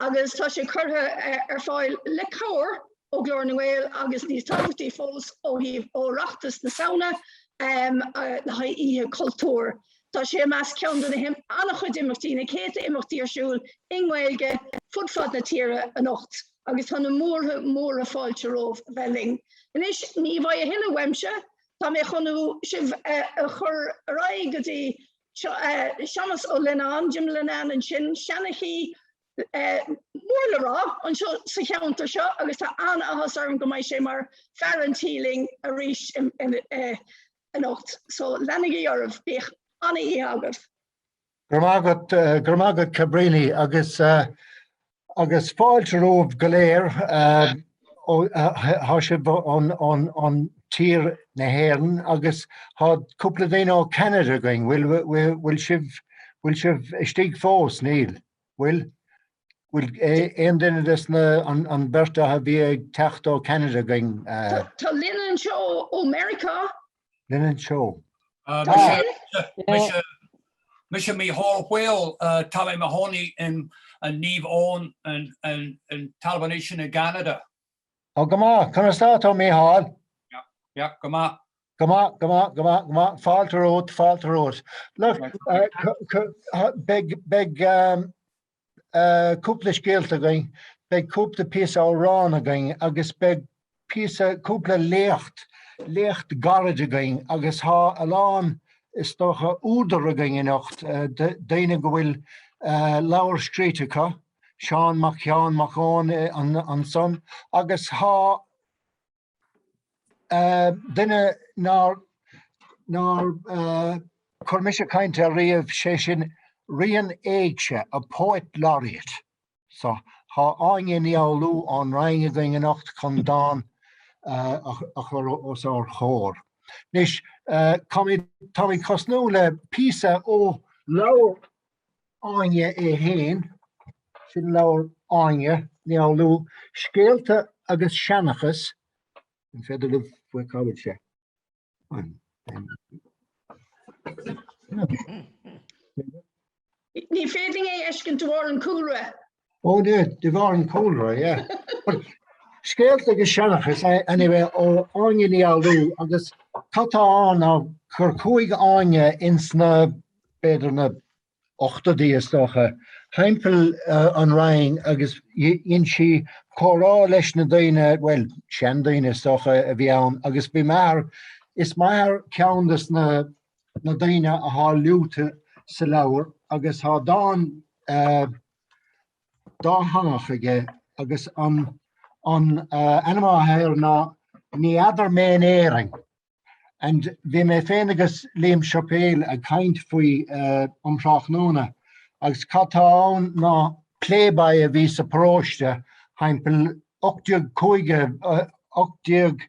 agus tá sé curtha ar fáil le cabhair ó Ghlór na nGael agus níos tábhachtaí fós ó thaobh Oireachtas na Samhna le haghaidh Oíche Chultúir. Tá sé i measc ceann de na him- an-chuid imeachtaí, na céadta imeachtaí ar siúl i nGaeilge fud fad na tíre anocht agus tá na múrtha móra fáilte romhaibh a bheith linn. Anois, ní bheidh a thuilleadh uaimse, tá mé chun sibh a chur ar aghaidh go dtí Séamus Ó Lionnáin, Jim Linnane ansin, seanchaí mór le rá anseo sa cheantar seo agus tá an-áthas orm go mbeidh sé mar fear an tí linn arís anocht. So leanaigí oraibh, bíodh ana-oíche agaibh. Go raibh maith agat, eh, go raibh maith agat Cabrini agus uh, Agus fáilte romhaibh go léir thá sibh ar thír na hÉireann agus thá cúpla daoine ó Canada againn, bhfuil sibh bhfuil sibh istigh fós níl bhfuil bhfuil aon duine des na an beirt a bhí ag teacht ó Canada againn? Tá Lynn anseo ó Meiriceá. Lynn anseo. Mise Micheál Fhaoil, tá mé i mo chónaí in an Niamh Eoin i dTalamh an Éisc ansin i gCeanada. Ó go maith, conas tá tú Micheál? Yeah, go maith. Go maith, go maith, go maith, go maith, fáilte romhat, fáilte romhat. Look, beidh, cúpla scéalta againn, beidh cúpla píosa amhrán againn agus beidh píosa, cúpla léacht, léacht gairid againn agus thá a lán, is dócha, údar againn anocht, daoine go bhfuil leabhar scríte acu, Seán Mac, Seán Mac Eoin ansan agus thá, Duine nár nár chuir mise caint air riamh, sé sin Ríon Éigse, a poet laureate. So, thá Áine Uí Fhoghlú ón Rinn againn anocht chun dán a chur os ár gcomhair. Anois, táimid, táimid ag tosnú le píosa ó leabhar Áine í fhéin, sin leabhar Áine Uí Fhoghlú, Scéalta agus Seanchas, an féidir libh faoi cá bhfuil sé? Ní féidir é fheiscint de bharr an chúlra. Oh yeah, de bharr an chúlra, yeah. But Scéalta agus Seanchas eh, anyway ó Áine Uí Fhoghlú agus cad tá ann ná gur chuaigh Áine ins na b'fhéidir na hochtóidí is dócha thimpeall uh, an Rinn agus dhein sí comhrá leis na daoine, well, seandaoine is dócha a bhí ann agus bhí m'athair is m'athair ceann des na na daoine athá luaite sa leabhar agus thá dán dátheangach aige agus an an ainm athá air ná Ní fheadar mé in Éirinn. And bhí mé féin agus Liam Suipéal ag caint faoi um thráthnóna agus cad tá ann ná playboy a bhí sa paróiste thimpeall 1850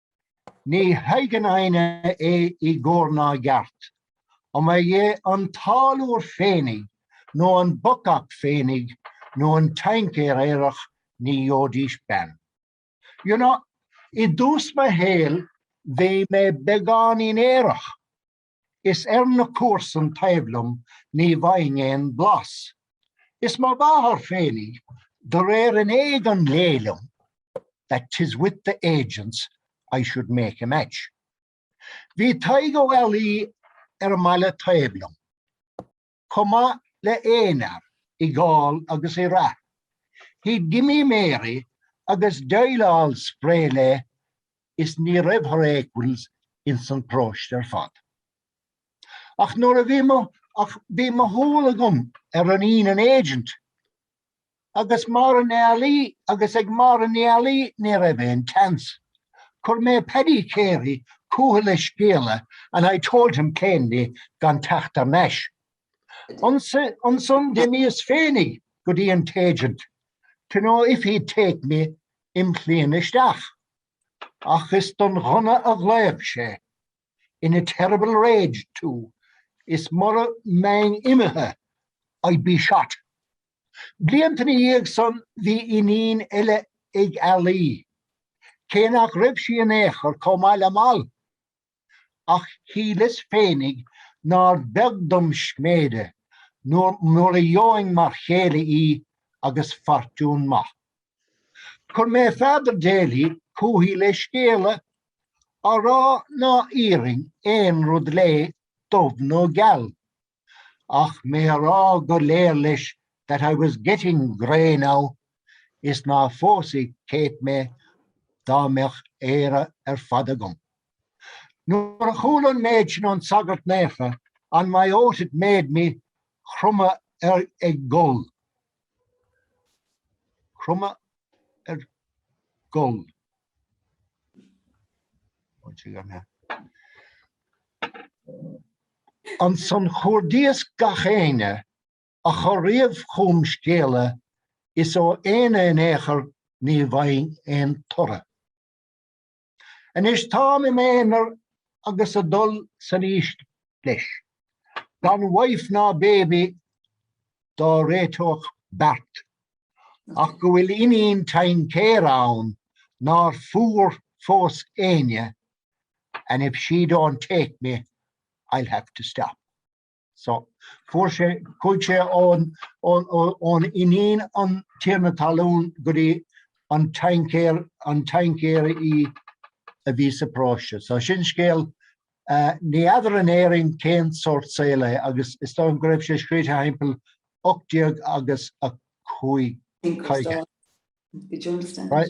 Ní thuigeann éinne é i gcóir ná i gceart. Dá mba é an táilliúr féinig, nó an bacach féinig, nó an taincéir aerach, ní gheobhaidís bean. You know, i dtús mo shaoil bhí mé beagáinín aerach. Is ar na comharsain taobh liom ní bhfaighinn aon bhlas. Is mo mháthair féinig, de réir an éid an léigh liom, that 'tis with the agents I should make a match. Bhí Tadhg Ó Ealaí ar an mbaile taobh liom. chomh maith le aon fhear i gcáil agus i rath. He'd gimme Mary agus deighleáil spré léi is ní raibh her equals ins an paróiste ar fad. Ach nuair a bhí mo ach bhí mo shúil agam ar iníon an agent agus Máire Ní Ealaí agus ag Máire Ní Ealaí ní raibh aon tseans. Chuir mé Paddy Carey chúithi le scéala and I told him plainly gan teacht thar n-ais. Ansan d'imíos féinig go dtí an t-agent to know if he'd take me im' chliamhain isteach. Ach is don ghunna a ghlaoigh sé. in a terrible rage too, is mura mbeinn imithe I'd be shot. Blianta ina dhiaidh san bhí iníon eile ag Ealaí, cé nach raibh sí in aon chor chomh maith le Mal, ach shíleas féinig nár bheag dom sméide nuair a gheobhainn mar chéile í agus fortún maith. Chuir mé Father Daly chúithi le scéala, á rá ná iarrfainn aon rud léi, dubh nó geal, ach mé a rá go léir leis that I was getting grey now, is ná phósfadh Kate mé dá mbeadh Éire ar fad agam. Nuair a chuala an méid sin ón sagart naofa, on my oath it made me, chromadh ag gol. Cromadh ar gol. Ansan chuardaíos gach éinne a chuir riamh chugam scéala is ó éinne in aon chor ní bhfaighinn aon toradh. Anois táim im' aonar agus ag dul san aois leis. Gan wife ná baby dá réiteodh beart. Ach go bhfuil iníon taincéir ann nár fuair fós éinne and if she don't take me I'll have to stop. So, fuair sé, chuaigh sé ón, ón, ón, ón iníon an tiarna talún go dtí an taincéir, an taincéir í a bhí sa paróiste. So sin scéal, uh, ní fheadar in Éirinn cén sórt saol é agus is dóigh liom go raibh sé scríte thimpeall 1805. Inquest on Johnston. Right.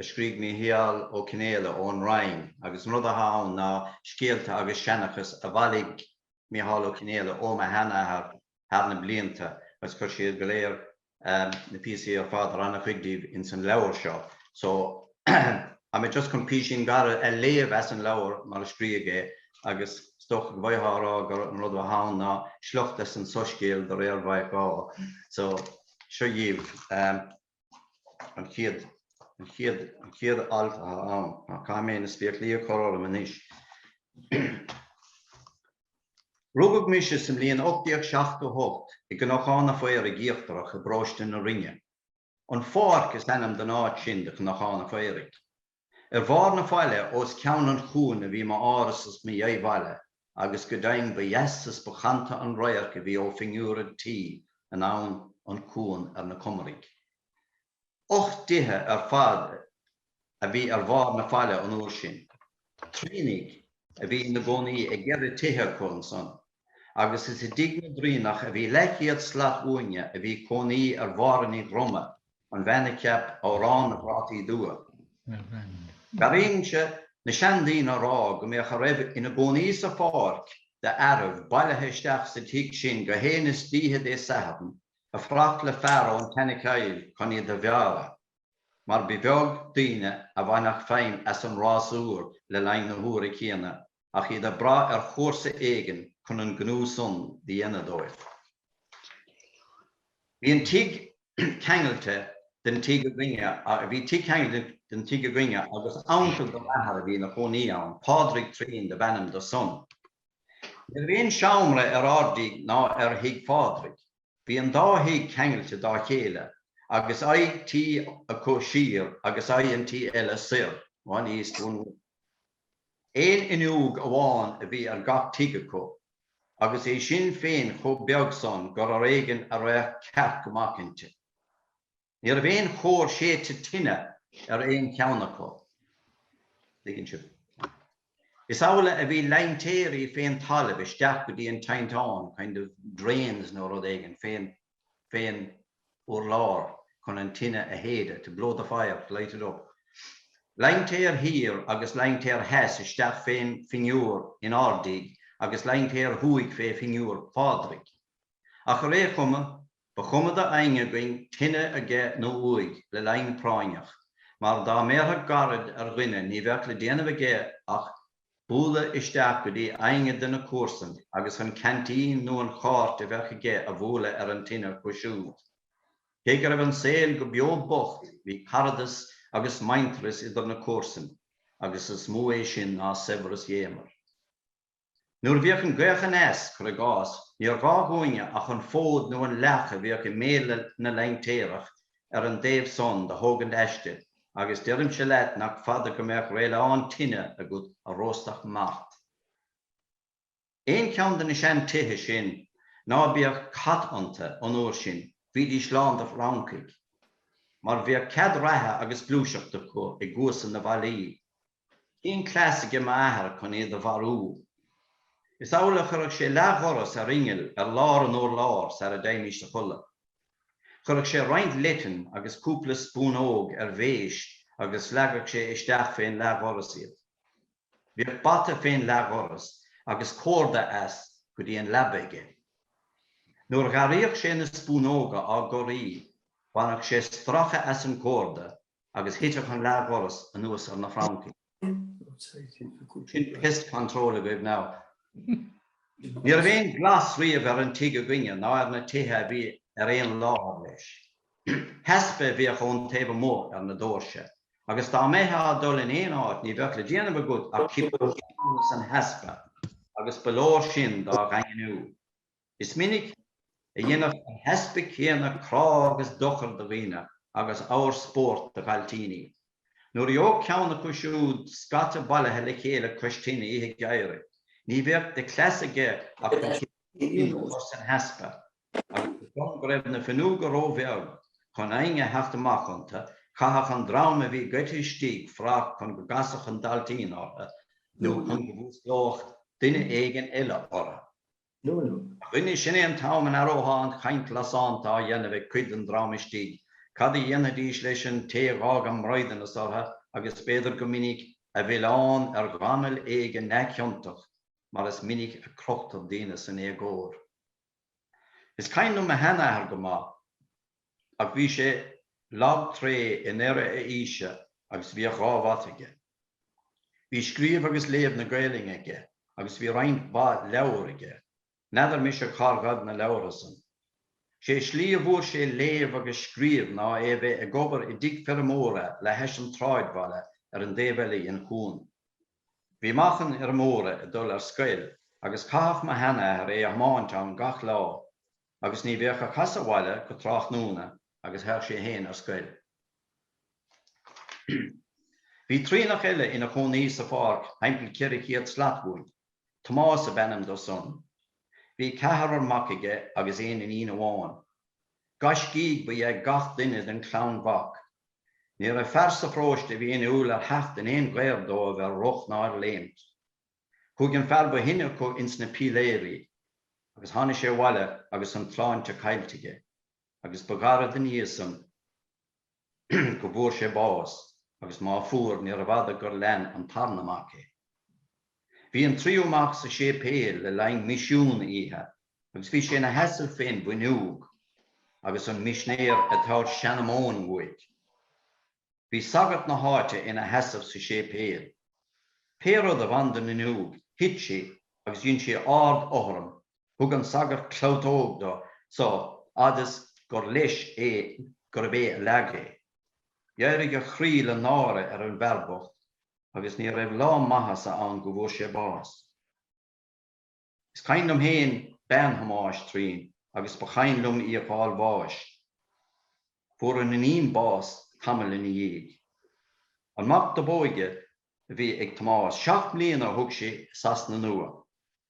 a scrígh Mícheál Ó Cionnfhaolaidh ón Rinn agus an rud athá ann ná scéalta agus seanchas a bhailigh Mícheál Ó Cionnfhaolaidh ó mo shean-athair thar na blianta agus chuir siad go léir na píosaí ar fad or ana chuid díobh ins an leabhar seo so tá mé just chun písín gairid a léamh as an leabhar mar a scríodh é agus is dócha go bhfaighfeá a rá gur an rud athá ann ná sliocht as an soiscéal de réir Mhaidhc Dháith so seo dhaoibh. an chéad, an chéad, an chéad alt atá ann, ná caithfidh mé na spéaclaí a chur orm anois. Rugadh mise sa mbliain 1878 i gCnocán a' Phaoraigh Íochtarach i bparóiste na Rinne. An Pháirc is ainm don áit sin de Chnocán a' Phaoraigh. Ar bharr na faille os ceann an chuain a bhí m'áras is mo dheá-bhaile agus go deimhin ba dheas is ba chanta an radharc a bhí ó phinniúr an tí anonn an cuan ar na Comaraigh. Ocht dtithe ar fad a bhí ar bharr na faille an uair sin. Turraoinigh a bhí ina gcónaí i gceithre tithe acu ansan. agus is i dtigh na dTurraoineach a bhí leathchéad slat uainne a bhí cónaí ar Mháire Ní Dhroma, an bhean a cheap 'Amhrán na bPrátaí Dubha'. D'airínnse na seandaoine á rá go mbíodh a raibh ina gcónaí sa Pháirc d'fhearaibh bailithe isteach sa tigh sin gach aon istoíche Dé Sathairn, ag fuireach le fear ón tSeanchill chun iad a bhearradh, mar ba bheag duine a bhaineadh feidhm as an rásúr le linn na huaire céanna. ach iad ag brath ar chomharsa éigin chun an gnó san do dhéanamh dóibh. Bhí an tigh ceangailte de, bhí tigh ceangailte den tigh againne agus uncail do m'athair a bhí ina chónaí ann, Pádraig Turraoin dob ainm dó san. Ní raibh aon seomra ar ár dtigh ná ar thigh Phádraig. Bhí an dá thigh ceangailte dá chéile agus aghaidh tí acu siar agus aghaidh an tí eile soir, one east, one west. Aon fhuinneog amháin a bhí ar gach tigh acu, agus é sin féin chomh beag san gur ar éigin a raghadh cearc amach inti. Ní raibh aon chóir séidte tine ar aon cheann acu. Tuigeann sibh. Is amhlaidh a bhí lintéirí fén talamh isteach go dtí an tinteán, kind of drains nó rud éigin, fén, fén, urlár chun an tine a shéideadh, to blow the fire, to light it up. Lintéar thiar agus lintéar theas isteach fén phinniúr in ár dtigh agus lintéar thuaidh fé phinniúr Phádraig. Ach ar aon chuma, ba chuma do éinne againn tine aige nó uaidh, le linn práinneach, mar dá mbéarfadh gairid ar dhuine ní bheadh le déanamh aige ach bualadh isteach go dtí éinne de na comharsain agus an ceaintín nó an cháirt a bheadh aige a bhualadh ar an tine acu siúd. Cé go raibh an saol go beo bocht, bhí caradas agus muintearas idir na comharsain agus is mó é sin ná saibhreas dhéanmhar. Nuair a bhíodh an ghaoth aneas, cuir i gcás, níor ghá dhúinne ach an fód nó an leac a bhíodh i mbéal na lintéireach Ar an dtaobh san do thógaint aiste agus deirimse leat nach fada go mbeadh réileán tine agat a róstfadh mart. Aon cheann de na sean tithe sin ná bíodh cat ionta an uair sin bhídís lán de fhrancaigh. Mar bhíodh cead reatha agus gluaiseachta acu i gcuasa na bhfallaí. Bhí an cleas age m'athair cun iad do mharú. Is amhlaidh a chuireadh sé leath-dhoras ar inneall ar lár an urláir sar a dtéimís a chodladh. Chuireadh sé roinnt leitean agus cúpla spúnóg ar mhéis agus leagadh sé isteach fé'n leath-dhoras iad. Bhíodh bata fé'n leath-dhoras agus córda as go dtí an leaba aige. Nuair dh'airíodh sé na spúnóga á gcorraí bhaineadh sé stracadh as an gcórda agus thiteadh an leathdhoras anuas ar na francaigh. Sin pest control agaibh now. Ní raibh aon ghlas riamh ar an tigh againne ná ar na tithe a bhí ar aon láthair leis. Heaspa a bhíodh ón taobh amuigh ar na dóirse, agus dá mbeitheá ag dul in aon áit ní bheadh le déanamh agat ach cipín a chiceáil san heaspa, agus ba leor sin dá dhaingniú. Is minic a dhéanadh an heaspa céanna crá agus dochar do dhaoine agus abhar spóirt do dhailtíní. Nuair a gheobhadh ceann acu siúd scata bailithe le chéile cois tine oíche gheimhridh, ní bhíodh de chleas aige ach an cipín a chur san heaspa, agus toisc go raibh na fuinneoga ró-bheag chun éinne a theacht amach iontu, chaitheadh an dream a bhí gaibhthe istigh fuireach chun go gcasfadh an dailtín orthu nó chun go bhfuasclódh duine éigin eile orthu. Luain. A dhuine, sin é an t-am a n-aireothá an chaint lasánta á dhéanamh ag cuid den dream istigh, cad a dhéanfaidís leis an té a dh'fhág a mbraighdeanas orthu agus b'fhéidir go minic a mhilleán ar ghamal éigin neamhchiontach, mar is minic a crochtar daoine san éagóir. Is cuimhin liom mo sheanathair go maith. Ach bhí sé lag tréith i ndeireadh a aoise agus bhíodh dhá bhata aige. Bhí scríobh agus léamh na Gaelainne aige agus bhí roinnt mhaith leabhar aige. N'fheadar mise cár ghaibh na leabhra san. 'Sé slí a bhfuair sé léamh agus scríobh ná é a bheith ag obair i dtigh feirmeora le hais an tsráidbhaile ar an dtaobh eile dhen chuan. Bhí mac an fheirmeora ag dul ar scoil agus caitheadh mo shean-athair é a thiomáint ann gach lá. Agus ní bheadh ag casadh abhaile go tráthnóna agus théadh sé fhéin ar scoil. Bhí Turraoineach eile ina chónaí sa Pháirc thimpeall ceithre chéad slat uainn. Tomás ab ainm do san. Bhí ceathrar mac aige agus aon iníon amháin. Gaiscígh ba ea gach duine den chlann mhac. Ní raibh fear sa pharóiste a bhí inniúil ar theacht in aon ghaor dóibh ar rith ná ar léimt. Chuaidh an fear ba shine acu ins na píléirí agus tháinigh sé abhaile agus an tsláinte caillte aige agus ba ghairid ina dhiaidh san go bhfuair sé bás agus má fuair níorbh fhada gur lean an tarna mac é. Bhí an tríú mac sa séipéal le linn misiún oíche agus bhí sé ina sheasamh fén bhfuinneog agus an misinéir ag tabhairt seanamóin uaidh. Bhí sagart na háite ina sheasamh sa séipéal. Pé rud a bhain don fhuinneog, thit sé agus dhein sé ardfhothram, thug an sagart clabhtóg do sa fhad is gur leis é gurb é a leag é. Dh'éirigh a chroí le náire ar an bhfear bocht agus ní raibh lá maitheasa ann go bhfuair sé bás. Is cuimhin liom fhéin bean Thomáis Turraoin agus ba chuimhin liom í ag fáil bháis. Fuair an iníon bás tamall ina dhiaidh. An mac do b'óige a bhí ag Tomás, seacht mbliana a thug sé i Sasana Nua.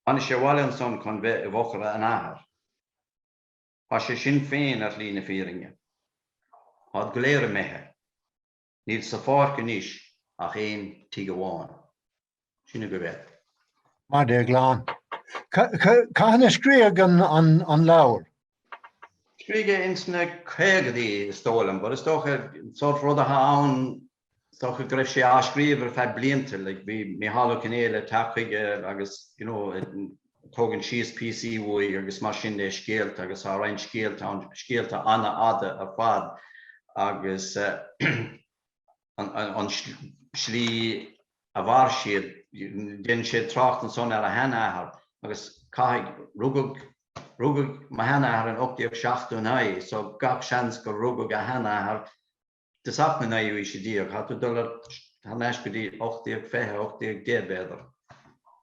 Tháinig sé abhaile ansan chun bheith i bhfochair an athar. Tá sé sin féin ar shlí na fírinne. Tá'd go léir imithe. Níl sa Pháirc anois ach aon tigh amháin. Sin agaibh é. Mar Déaglán. Cathain a scríodh an leabhar? Scríodh ins na caogaidí is dóigh liom, but is dócha an sórt rud athá ann, is dócha go raibh sé á scríobh ar feadh blianta, like bhí Micheál Ó Cionnfhaolaidh ag teacht chuige agus, you know, Tógann síos píosaí uaidh agus mar sin de scéalta agus tá roinnt scéalta ann, scéalta an-fhada ar fad agus an slí a mhair siad, déanann sé trácht ansan ar a shean-athair agus caithfidh, rugadh, rugadh mo shean-athair in 1879 so gach seans gur rugadh a shean-athair i dtosach na naoú aoise déag, tá tú ag dul thar n-ais go dtí ocht déag fiche, ocht déag deich b'fhéidir,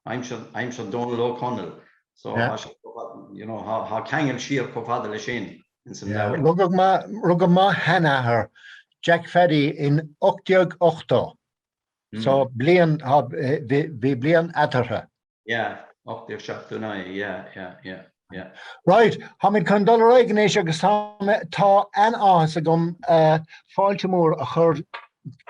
aimsir Dónal Ó Conaill, so tá sé chomh fada, you know, tá ceangal siar chomh fada le sin in san leabhar. Rugadh mo, rugadh mo sheanathair Jack Phaddy in ocht déag ochtó, so bliain, bhí bliain eatarthu. Yeah, 1879, yeah, yeah, yeah, yeah. Right, táimid chun dul ar aghaidh anois agus tá mé, tá an-áthas agam uh, fáilte mór a chur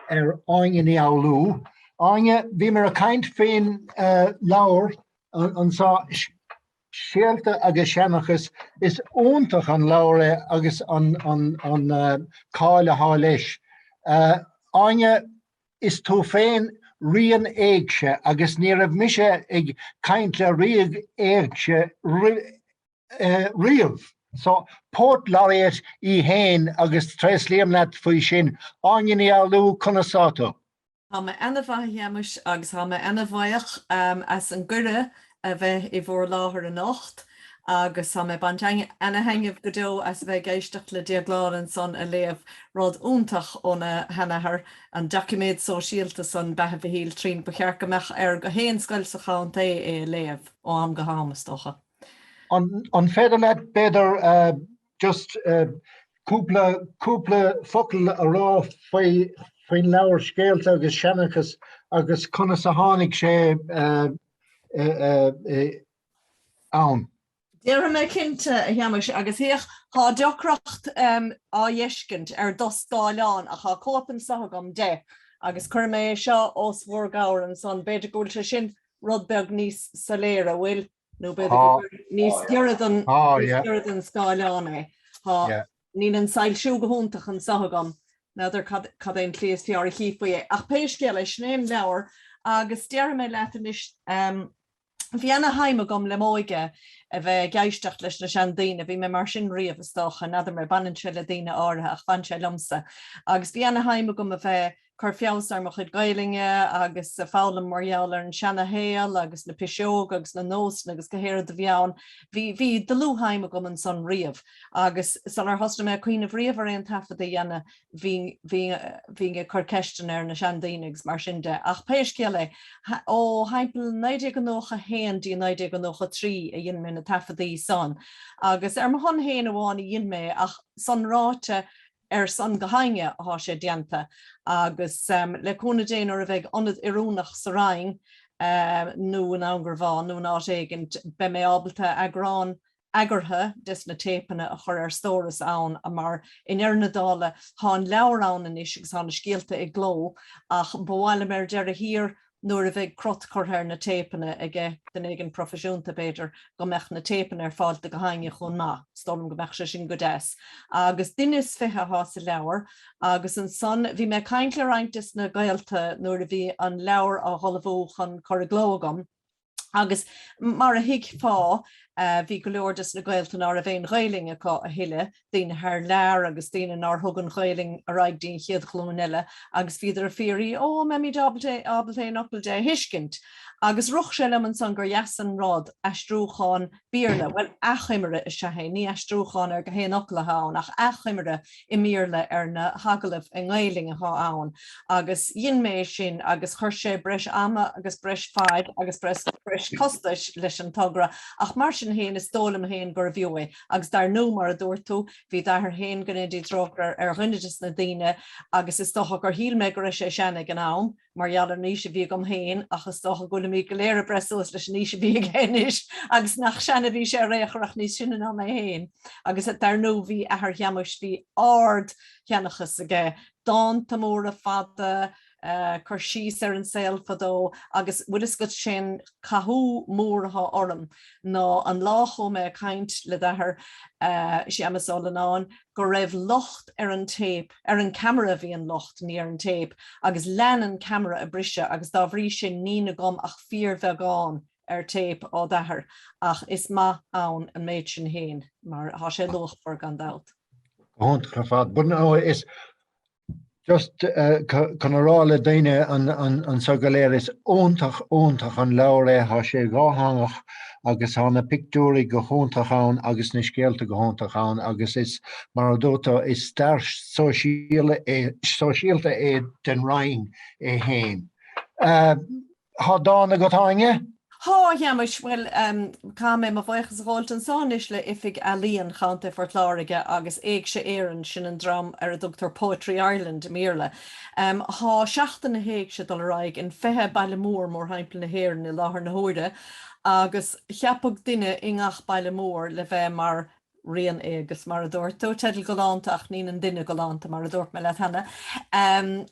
ar Áine Ní Fhoghlú. Áine, bhíomar ag caint faoin uh, leabhar an, ansan Scéalta agus Seanachas is iontach an leabhar é agus an, an, an uh, cáil atá leis. Uh, Áine, is tú féin ríon éigse agus ní raibh mise ag caint le ríon éigse riamh. So Poet Laureate í fhéin agus tréaslaím leat faoi sin. Áine Ní Fhoghlú, conas tá tú? Tá mé ana mhaith a Shéamais agus tá mé ana bhaoch as an gcuireadh a bheith i bhur láthair anocht agus tá mé ag baint ana-thaitneamh go deo as a bheith ag éisteacht le Déaglán ansan ag léamh rud iontach óna sheanathair, an doiciméad sóisialta san, Beatha Mhichíl Turraoin. Ba cheart go mbeadh ar gach aon scoil sa chontae é a léamh ó am go ham, is dócha. An féidir leat, b'fhéidir, just cúpla, cúpla focal a rá faoi, faoin leabhar Scéalta agus Seanchas agus conas a tháinig sé ann. Déarfaidh mé cinnte, a Shéamais, agus féach, tá deacracht á dh'fheiscint ar do scáileán, ach tá cóip anso agam de, agus cuirfidh mé é seo os bhur gcomhair ansan. B'fhéidir go bhfuil sé sin rud beag níos soiléire, an bhfuil? Nó b'fhéidir gur níos giorra don scáileán é. Tá. Níl an soilsiú go hiontach anso agam, n'fheadar cad é an tslí is fearr a chífí é, ach pé scéal é, sin é an leabhar agus déarfaidh mé leat anois, bhí ana-shuim agam le m'óige a bheith ag éisteacht leis na seandaoine, bhí mé mar sin riamh is dócha, n'fheadar mé, baineann sé le daoine áirithe ach bhain sé liomsa, agus bhí ana-shuim agam a bheith. cur feabhas ar mo chuid Gaelainne agus a foghlaim mar gheall ar an seana shaol agus na piseoga agus na nósanna agus go haon rud a bhí ann. Bhí bhí dlúthshuim agam ann san riamh agus sular thosnaigh mé ag cuimhneamh riamh ar aon taifead a dhéanamh bhí bhí bhí ag cur ceisteanna ar na seandaoine agus mar sin de. Ach pé scéal é, ó thimpeall 1991 dtí 1993 a dhein mé na taifeadtaí san agus ar mo shon féin amháin a dhein mé é ach, san ráite, ar son go haoinne athá sé déanta agus le cúnamh Dé nuair a bheidh ionad oiriúnach sa Rinn nó i nDún Garbhán nó in áit éigint beidh mé ábalta eagrán eagartha des na téipeanna a chur ar stóras ann mar i ndeireadh na dála thá an leabhar ann anois agus thá na scéalta i gcló ach ba mhaith liom ar deireadh thiar nuair a bheidh crot curtha ar na téipeanna aige, duine éigin proifisiúnta, b'fhéidir, go mbeadh na téipeanna ar fáil do go haoinne chomh maith, is dóigh liom go mbeadh sé sin go deas. Agus duine is fiche atá sa leabhar. Agus ansan, bhí mé ag caint le roinnt des na gaolta nuair a bhí an leabhar á dh'ullmhú chun cur i gcló agam, Agus mar a thuigfeá, bhí go leor des na gaolta ná raibh aon Ghaoluinn acu a thuilleadh, daoine thar lear agus daoine nár thug an Ghaoluinn ar aghaidh dtí an chéad ghlúin eile agus bhíodar ag fiafraí ó an mbeimíd ábalta aon fhocal de a thuiscint. Agus rith sé liom ansan gur dheas an rud, aistriúchán Béarla. Bhuel, achoimre is ea é, ní aistriúchán ar go haon fhocal atá ann ach achoimre i mBéarla ar na hagallaimh i nGaelainn atá ann agus dhein mé é sin agus chuir sé breis ama agus breis faid agus breis costais leis an togra ach mar sin féin is dóigh liom féin gurbh fhiú é agus dar ndú mar a dúirt tú, bhí d'athair féin, go ndéana Dia trócaire air, ar dhuine des na daoine agus is dócha gur shíl mé go raibh sé sean ag an am. mar gheall ar an aois a bhí agam féin ach is dócha go bhfuilimid go léir ag breith suas leis an aois a bhí aige anois agus nach sean a bhí sé ar aon chor ach níos sine ná mé féin. Agus dar ndóigh bhí athair Shéamuis, bhí ard-sheanchas aige, dánta móra fada, cur síos ar an saol fadó agus bhfuil fhios agat sé'n cathú mór athá orm ná an lá a chuaigh mé ag caint le d'athair, Séamus Ó Lonáin, go raibh locht ar an téip, ar an ceamara a bhí an locht, ní ar an téip, agus lean an ceamara a briseadh agus dá bhrí sin nín agam ach fíorbheagán ar téip á d'athair ach is maith ann an méid sin fhéin mar tá sé luachmhar gan dabht. Go hiontach ar fad. But no, is Just chun a rá le daoine anso go léir, is iontach, iontach an leabhar é. Tá sé dhátheangach agus tá na pictiúirí go hiontach ann agus na scéalta go hiontach ann agus is, mar a dúirt tú, is stair sóisialta é den Rinn é féin. Thá dán agat Áine? Thá, a Sheamais, bhuel, caithfidh mé mo bhuíochas a ghabháilt anso anois le Oifig Ealaíon Chontae Phort Láirge agus Éigse Éireann, sin an dream ar a dtugtar Poetry Ireland i mBéarla. Thá Seachtain na hÉigse dul ar aghaidh in 20 baile mór mórthimpeall na hÉireann i láthair na huaire agus cheapadh duine i ngach baile mór le bheith mar ríon-éigeas mar a dúirt tú, teideal galánta ach nín an duine galánta mar a dúirt mé leat cheana.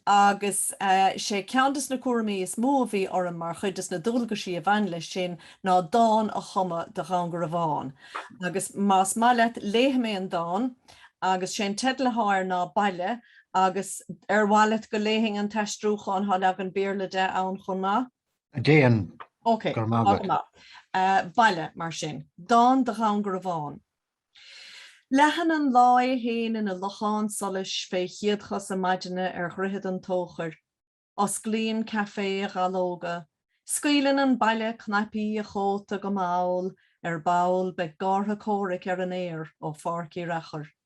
Agus sé ceann des na cúraimí is mó a bhí orm mar chuid des na dualgaisí a bhain leis sin ná dán a chumadh do Dhún Garbhán. Agus más maith leat léifidh mé an dán agus sé an teideal athá air ná Baile agus ar mhaith leat go léifinn an t-aistriúchán, thá leagan Béarla de ann chomh maith? Déan Ok, go raibh maith agat. Baile, mar sin. Dán do Dhún Garbhán. Leathann an lá é fhéin ina lochán solais fé chéadchosa maidine ar Dhroichead an Tóchair. Osclaíonn café a dhallóga. Scaoileann an baile cnaipí a chóta go mall ar ball beidh gártha comhraic ar an aer ó Pháirc Uí Fhearachair.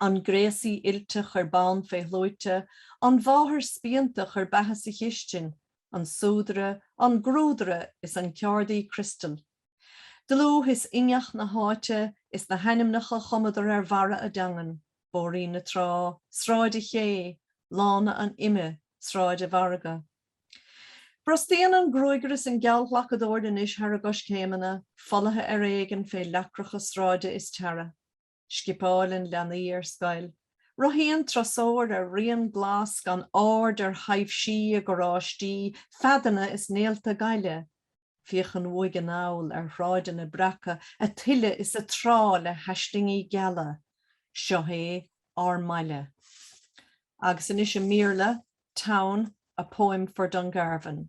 An gréasaí oilte chuir bonn fé shluaite, an mháthair spíonta chuir beatha sa chistin, an súdaire, an grúdaire is an ceárdaí criostail. Dlúth is inneach na háite is na hainmneacha chumadar ar bharra a dteangan, Bóithrín na Trá, Sráid a Ché, Lána an Ime, Sráid a' Mhargaidh. Brostaíonn an gruagaire is an geallghlacadóir anois thar a gcoiscéimeanna, folaithe ar éigin fé leacracha sráide is tarra. Scipeálann leanaí ar scoil. Rothaíonn turasóir ar rian glas gan aird ar thaibhsí i gcarráistí, feadanna is néalta gaile. Féachann uaidh anall ar shráideanna breaca ag tuile is ag trá le haislingí geala. Seo é ár mbaile. Agus anois i mBéarla, Town, A Poem for Dungarvan.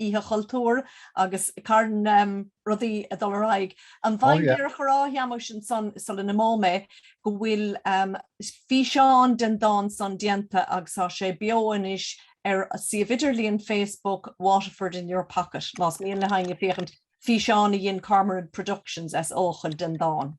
Oíche Chultúir agus carn rudaí ag dul ar aghaidh. An bhféadfainn díreach a rá Sheamais ansan sula n-imeoidh mé go bhfuil físeán den dán san déanta agus tá sé beo anois ar suíomh idirlíon Facebook Waterford in Your Pocket más mian le héinne féachaint, físeán a dhein Cormorant Productions as Eochaill den dán.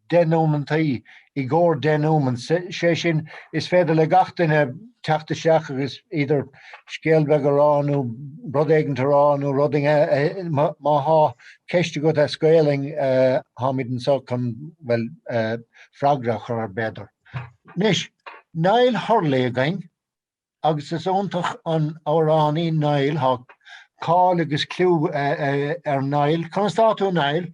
denoumentaí i gcomhair dénouement, sé sin, is féidir le gach duine teacht isteach agus either scéal beag a rá nó rud éigint a rá nó rud éigin a, má thá ceist agat as Gaelainn, tháimid anseo chun, bhuel, freagra a chur ar b'fhéidir. Anois, Niall Hurley againn, agus is iontach an amhránaí Niall, thá cáil agus cliú ar Niall. Conas atá tú, Niall?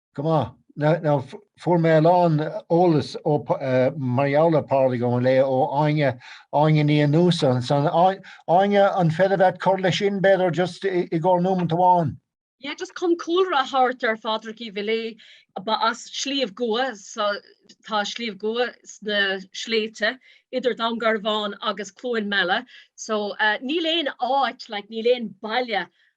Go maith. Now, fuair mé a lán eolas ó mar gheall ar Pádraig Ó Miléadha ó Áine Áine Ní Fhiannusa so Áine an féidir leat cur leis sin b'fhéidir just i gcóir nómant amháin. Yeah, just chun cúlra a thabhairt ar Phádraig Uí Mhiléadha ba as Sliabh gCua so tá Sliabh gCua sna sléibhte idir Dún Garbhán agus Cluain Meala so uh, níl aon áit like, níl aon baile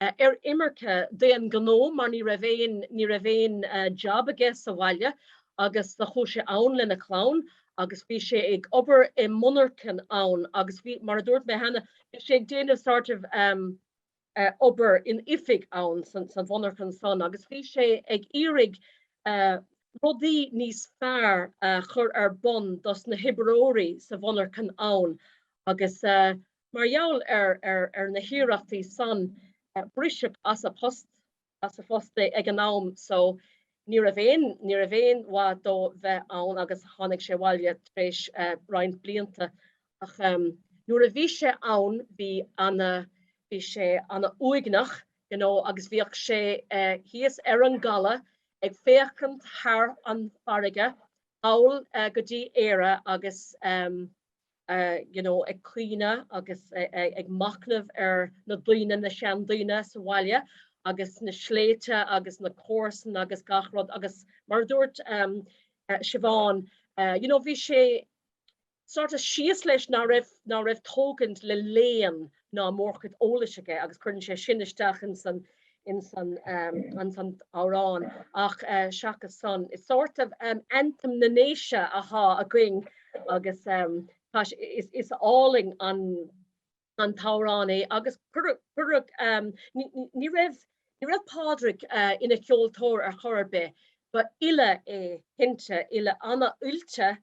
eh, ar imirce d'aon ghnó mar ní raibh aon, ní raibh aon eh, job aige sa bhaile agus do chuaigh sé ann lena chlann agus bhí sé ag obair i monarchan ann agus bhí, mar a dúirt mé cheana, bhí sé ag déanamh sort of um, uh, obair in oifig ann san, san mhonarchan san agus bhí sé ag iarraidh uh, rudaí níos fearr uh, chur ar bun dos na hoibreoirí sa mhonarchan ann agus uh, Mar gheall ar na hiarrachtaí san, briseadh as a post, as a phost é ag an am so. Ní raibh aon, ní raibh aon mhaith dó bheith ann agus tháinig sé abhaile tar éis roinnt blianta. Ach nuair a bhí sé ann bhí sé ana uaigneach you know agus bhíodh sé thíos ar an gcaladh ag féachaint thar an bhfarraige thall go dtí Éire agus you know, ag caoineadh agus ag machnamh ar na daoine, na seandaoine sa bhaile agus na sléibhte agus na comharsain agus gach rud agus mar a dúirt um Siobhán uh, you know, bhí sé sort of síos leis ná raibh, ná raibh tógaint le léann ná mórchuid eolais aige agus cuireann sé sin isteach ins an, ins an amhrán ach seachas san. Is sort of anthem na nDéise athá againn agus tá sé, is álainn an t-amhrán é agus cuireadh, ní raibh, ní raibh Pádraig ina cheoltóir ar chor ar bith, ba fhile é cinnte, fhile ana oilte,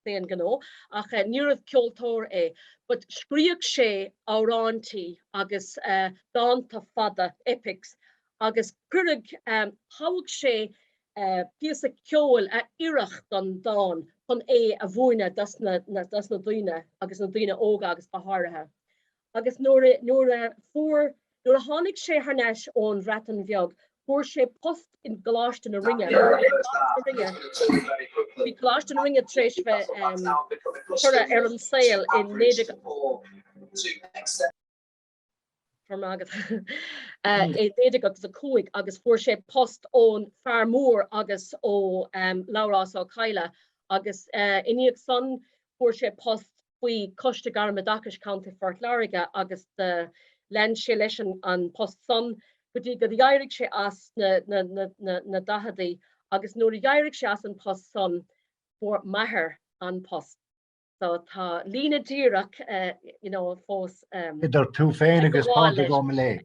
d'aon ghnó, ach níorbh ceoltóir é, but scríodh sé amhráintí agus dánta fada, epics, agus cuireadh, thogh sé píosa ceoil a oirfeadh don dán chun é a mhúineadh dos na daoine, agus na daoine óga agus go háirithe. Agus nuair a, nuair a fuair, nuair a tháinig sé thar n-ais ón Bhreatain Bheag, fuair sé post i gColáiste na Rinne, bhí Coláiste na Rinne tar éis bheith curtha ar an saol i 19, 1905 agus fuair sé post ón Fear Mór agus ó Labhrás Ó Cadhla agus i ndiaidh san fuair sé post faoi Choiste Gairmoideachais Chontae Phort Láirge agus lean sé leis an post san go dtí go d'éirigh sé as sna daichidí agus nuair a d'éirigh sé as an post san fuair m'athair an post. So tá líne díreach fós idir tú féin agus Pádraig.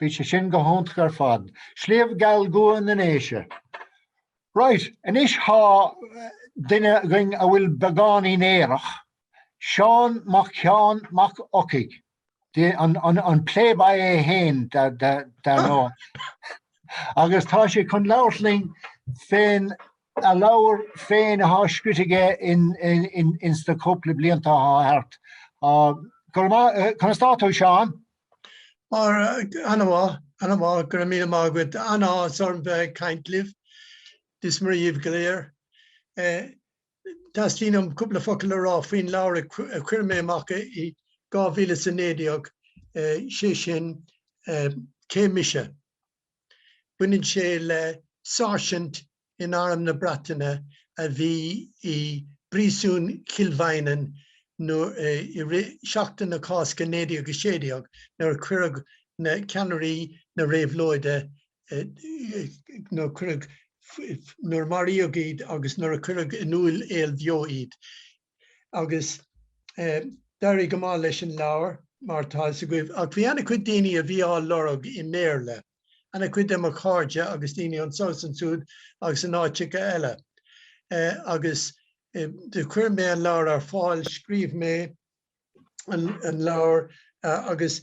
Bhí sé sin go hiontach ar fad. Sliabh Geal gCua na nDéise. Right, anois thá duine againn a bhfuil beagáinín aerach, Seán Mac Sheáin Mac Eochaidh, the, an, an, an pléboy é fhéin de, de, dar ndóigh. Agus tá sé chun labhairt linn fén a leabhar féin athá scrite aige in, in, in, ins na cúpla blianta athá thart. Ah, Go raibh maith, eh, conas tá tú, Seán? Ana mhaith, ana mhaith, go raibh míle maith agat. An-áthas orm bheith ag caint libh. Dia is Muire dhíbh go léir. Teastaíonn uaim cúpla focal a rá faoin leabhar a chuir mé amach i 2019, sé sin Cé Mise? Baineann sé le sáirsint in Arm na Breataine a bhí i bPríosún Chill Mhaighneann i rith Sheachtain na Cásca 1916 nuair a cuireadh na ceannairí na réabhlóide, nuair a cuireadh, nuair a maraíodh iad agus nuair a cuireadh in aol beo iad. agus d'éirigh go maith leis an leabhar mar tá fhios agaibh ach bhí an-chuid daoine a bhí á lorg i mBéarla, an-chuid de mo chairde agus daoine anseo is ansúd agus in áiteacha eile agus do chuir mé an leabhar ar fáil, scríobh mé an leabhar agus.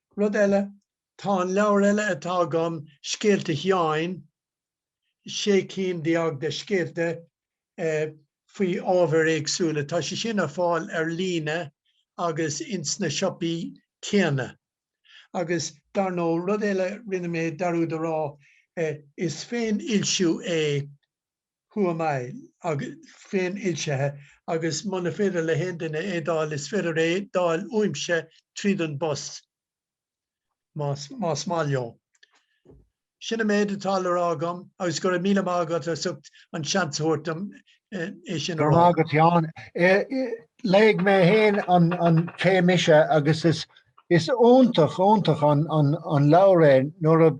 Rud eile, tá an leabhar eile atá agam, Scéalta Sheáin, sé cinn déag de scéalta faoi ábhair éagsúla. Tá sé sin ar fáil ar líne agus ins na siopaí céanna. Agus dar ndóigh, rud eile rinne mé, dhearúdas a rá, is féinfhoilsiú é who am I? agus féinfhoilsithe, agus muna féidir le haon duine é d'fháil, is féidir é d'fháil uaimse tríd an bpost, más maith leo. Sin an méid atá le rá agam, agus go raibh míle maith agat as ucht an seans a thabhairt dom é sin a rá. Go raibh maith agat, Seán. Léigh mé féin an Cé Mise, agus is iontach, iontach an leabhar é nuair a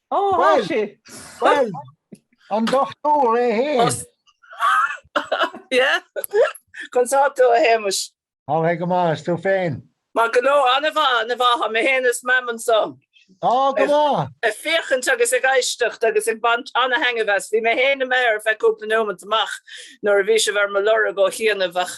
Ó, thá sí! Bhuel, an dochtúir é fhéin. Yeah. Conas tá tú, a Shéamais? Ó thá mé go maith, is tú féin? Maith go leor, an-mhaith, an-mhaith, tá mé fhéin is Mam anso. Á, go maith! Ag féachaint agus ag éisteacht agus ag baint an-thaitnimh as. Bhí mé fhéin imithe ar feadh cúpla nóimeat amach nuair a bhí sibh ar mo lorg ó chianaibh ach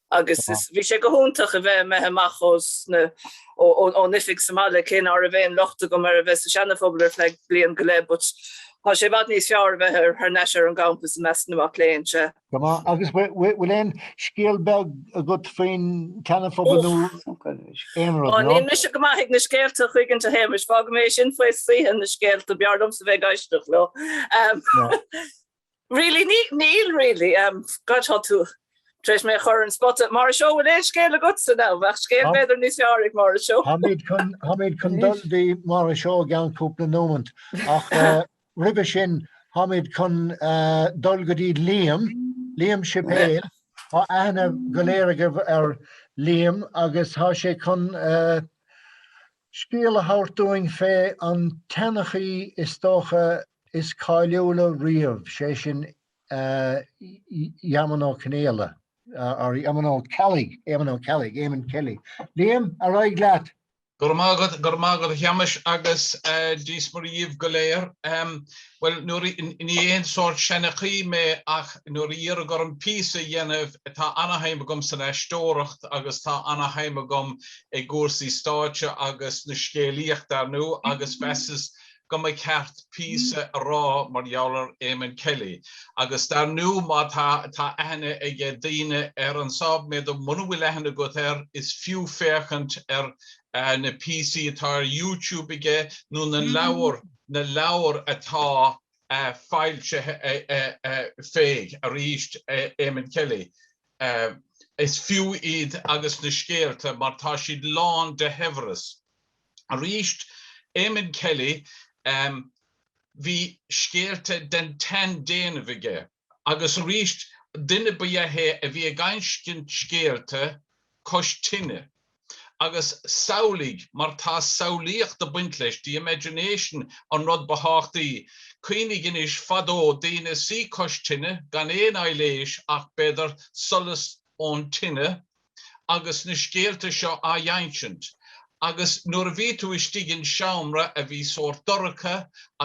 Agus is, bhí sé go hiontach a bheith imithe amach as na, ón oifig sa mbaile, cé nach raibh aon locht agam ar a bheith sa Seana Phobal ar feadh bliain go leith, but tá sé i bhfad níos fearr a bheith ar, thar n-ais ar an gcampas i measc na mac léinn, sea. Go maith, agus bhfuil aon scéal beag agat faoin tSeana Phobal nó aon rud, nó? Ó, níl mise go maith ag na scéalta in aon chuigint, a Shéamais, fágfaidh mé sin faoi saoithe na scéalta, b'fhearr liomsa bheith ag éisteacht leo. Really ní, níl really ehm God tá tú tar éis mé a chur ar an spota. Máire Seó bhfuil aon scéal agatsa now? Bheadh scéal b'fhéidir níos fearr ag Máire Seó. Tháimid chun, tháimid chun dul dtí Máire Seó i gceann cúpla nómant ach eh, roimhe sin tháimid chun eh, dul go dtí Liam, Liam Sipéal. Thá aithne go léir agaibh ar Liam agus thá sé chun eh, scéal a thabhairt dúinn fé an tseanchaí is dócha is cáiliúla riamh, sé sin Eamonn Ó Conaola, or Eamonn Ó Ceallaigh, Éamonn Ó Ceallaigh, Eamon Kelly. Liam, ar aghaidh leat! Go raibh maith agat, go raibh maith agat a Sheamais agus Dia's Muire dhíbh go léir. Bhuel, nuair a, ní haon sórt seanchaí mé ach nuair a iarradh orm píosa a dhéanamh, tá ana-shuim agam san aisteoireacht agus tá ana-shuim agam i gcúrsaí stáitse agus na scéalaíochta, ar ndó, agus mheasas go mba cheart píosa a rá mar gheall ar Eamonn Kelly agus dar ndó má tá, tá aithne ag daoine air anso, b'fhéidir muna bhfuil aithne agat air, is fiú féachaint ar na píosaí atá ar YouTube aige nó na leabhair, na leabhair atá foilsithe fé, arís, Eamonn Kelly. Is fiú iad agus na scéalta mar tá siad lán de shaibhreas. arís, Eamonn Kelly, bhí scéalta den tseandéanamh aige agus arís duine ba ea é a bhí ag insint scéalta cois tine. Agus samhlaigh, mar tá samhlaíocht ag baint leis, the imagination an rud ba thábhachtaí, cuimhnigh anois, fadó, daoine ina suí cois tine, gan aon aibhléis ach, b'fhéidir, solas ón tine, agus na scéalta seo á n-insint agus nuair a bhí tú istigh in seomra a bhí sórt dorcha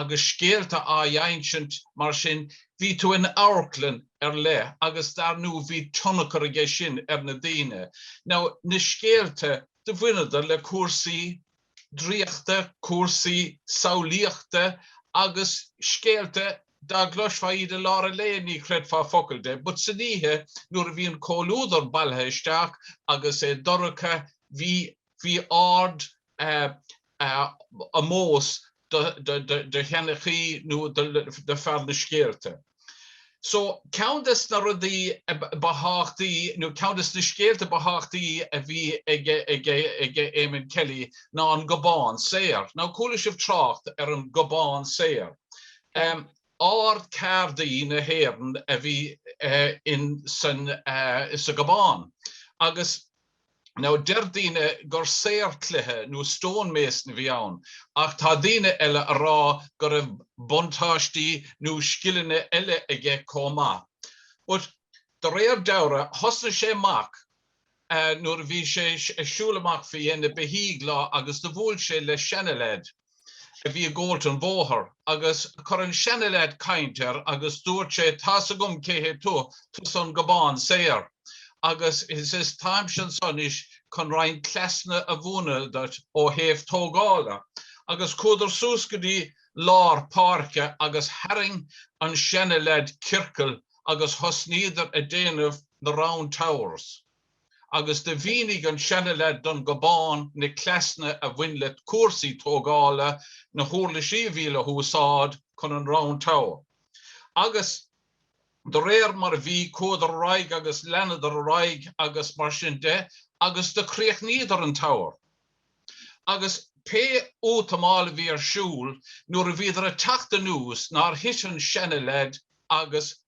agus scéalta á n-insint mar sin bhí tú in amharclann ar leith agus dar nó bhí tionchar aige sin ar na daoine. Now na scéalta do bhaineadar le cúrsaí draíochta, cúrsaí samhlaíochta agus scéalta Dá gcloisfeá iad i lár an lae ní chreidfeá focal de but san oíche nuair a bhí an comhluadar bailithe isteach agus é dorcha bhí bhí ard omós do sheanchaí nó do fear na scéalta. So, ceann des na rudaí ba thábhachtaí, nó ceann des na scéalta ba thábhachtaí a bhí ag Eamonn Kelly ná an Gobán Saor. Now, chuala sibh trácht ar an Gobán Saor. Ard-Cheardaí na hÉireann a bhí in sa Gobán. Agus Now deir daoine gur saor cloiche nó stone mason a bhí ann, ach tá daoine eile a rá go raibh buntáistí nó scileanna eile aige comh maith. But de réir dealraimh, thosnaigh sé amach nuair a bhí sé ag siúl amach fé dhéin na mbeithíoch lá agus do bhuail sé le seana-leaid, a bhí i gcoinne an bhóthair agus chuir an seana-leaid caint air agus dúirt sé tá's agam cé hé tú, tusa an Gobán Saor agus is is táimse anso anois chun roinnt cleasanna a mhúineadh duit ó thaobh tógála agus chuadar suas go dtí lár páirce agus tharraing an seana-leaid ciorcal agus thosnaíodar a déanamh na round towers. agus do mhínigh an seana-leaid don Gobán na cleasanna a bhain le cúrsaí tógála na huirlisí a bhí le húsáid chun an Round Tower, agus de réir mar a bhí, chuadar ar aghaidh agus leanadar ar aghaidh agus mar sin de agus do chríochnaíodar an tower. Agus pé útamáil a bhí ar siúl nuair a bhíodar ag teacht anuas nár thit an seana-leaid agus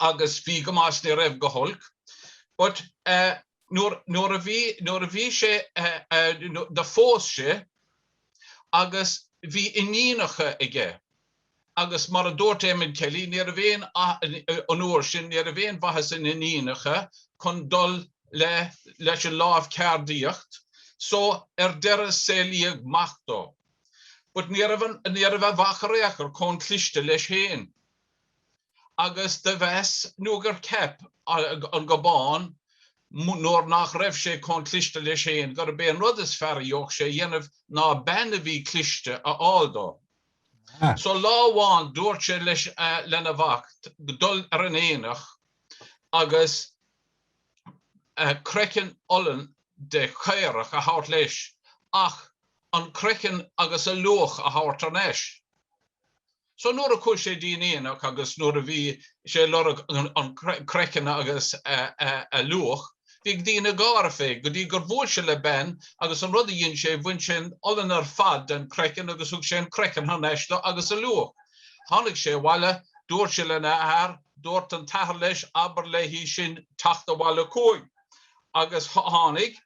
agus bhí go maith 's ní raibh go holc but eh nuair, nuair a bhí, nuair a bhí sé eh, eh do phós sé agus bhí iníonacha aige agus mar a dúirt Eamonn Kelly ní raibh aon, an uair sin, ní raibh aon mhaitheas in iníonacha chun dul le, leis an lámh ceardaíocht so ar deireadh saolaíodh mac dó but ní raibh an, ní raibh a mhac in aon chor, comh cliste leis féin. agus do mheas nó gur cheap an Gobán nuair nach raibh sé comh cliste leis féin gurb é an rud is fearr a d'fhéadfadh sé a dhéanamh ná bean a bhí cliste a fháil dó. So lá amháin dúirt sé leis lena mhac dul ar an aonach agus craiceann olann de chaorach a thabhairt leis ach an craiceann agus a luach a thabhairt thar n-ais. So nuair a chuaigh sé dtí'n aonach agus nuair a bhí sé ag lorg an chraiceann agus a luach, bhí ag daoine gáire fé, go dtí gur bhuail sé le bean agus an rud a dhein sé, bhain sé an olann ar fad den chraiceann agus thug sé an craiceann thar n-ais dó agus a luach. Tháinig sé abhaile, dúirt sé lena athair, dúirt an t-athair leis abair léi sin teacht abhaile chugainn. Agus tháinig.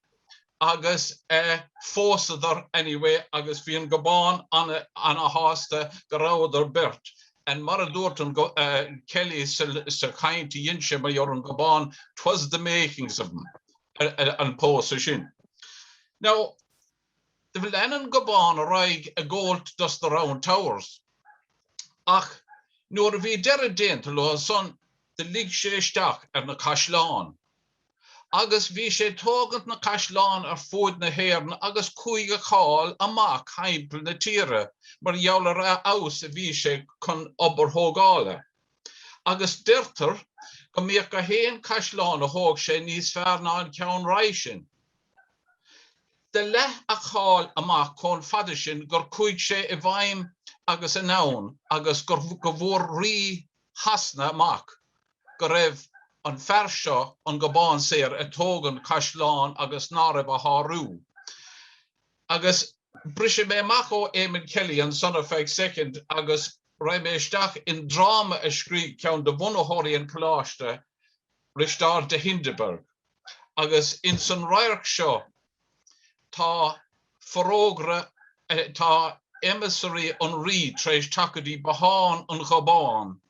agus eh phósadar anyway agus bhí an Gobán ana, ana shásta go rabhadar beirt and mar a dúirt an eh Kelly sa, sa chaint a dhein sé mar an Gobán 'twas the makings of him an pósadh sin. Now, lean an Gobán ar aghaidh ag góilt dos na Round Towers ach nuair a bhí deireadh déanta leo san do luigh sé isteach ar na caisleáin agus bhí sé tógaint na caisleán ar fuaid na hÉireann agus chuaigh a cháil amac thimpeall na tíre mar gheall ar a fheabhas a bhí sé chun obair thógála. Agus deirtear go mbíodh gach aon caisleán a thóg sé níos fearr ná an ceann roimh sin. Do leath a cháil amac chomh fada sin gur chuaigh sé i bhfeidhm agus anonn agus go bhfuair Rí Shasana amac go raibh an fear seo, an Gobán Saor, ag tógaint caisleán agus ná raibh a shárú. Agus brisfidh mé amach ó Eamonn Kelly ansan ar feadh soicind agus raghaidh mé isteach i ndráma a scrígh ceann de bhunaitheoirí an Coláiste, Risteard de Hindeberg. Agus insan radharc seo tá forógra, tá emissory an Rí tar éis teacht go dtí bothán an Ghobáin.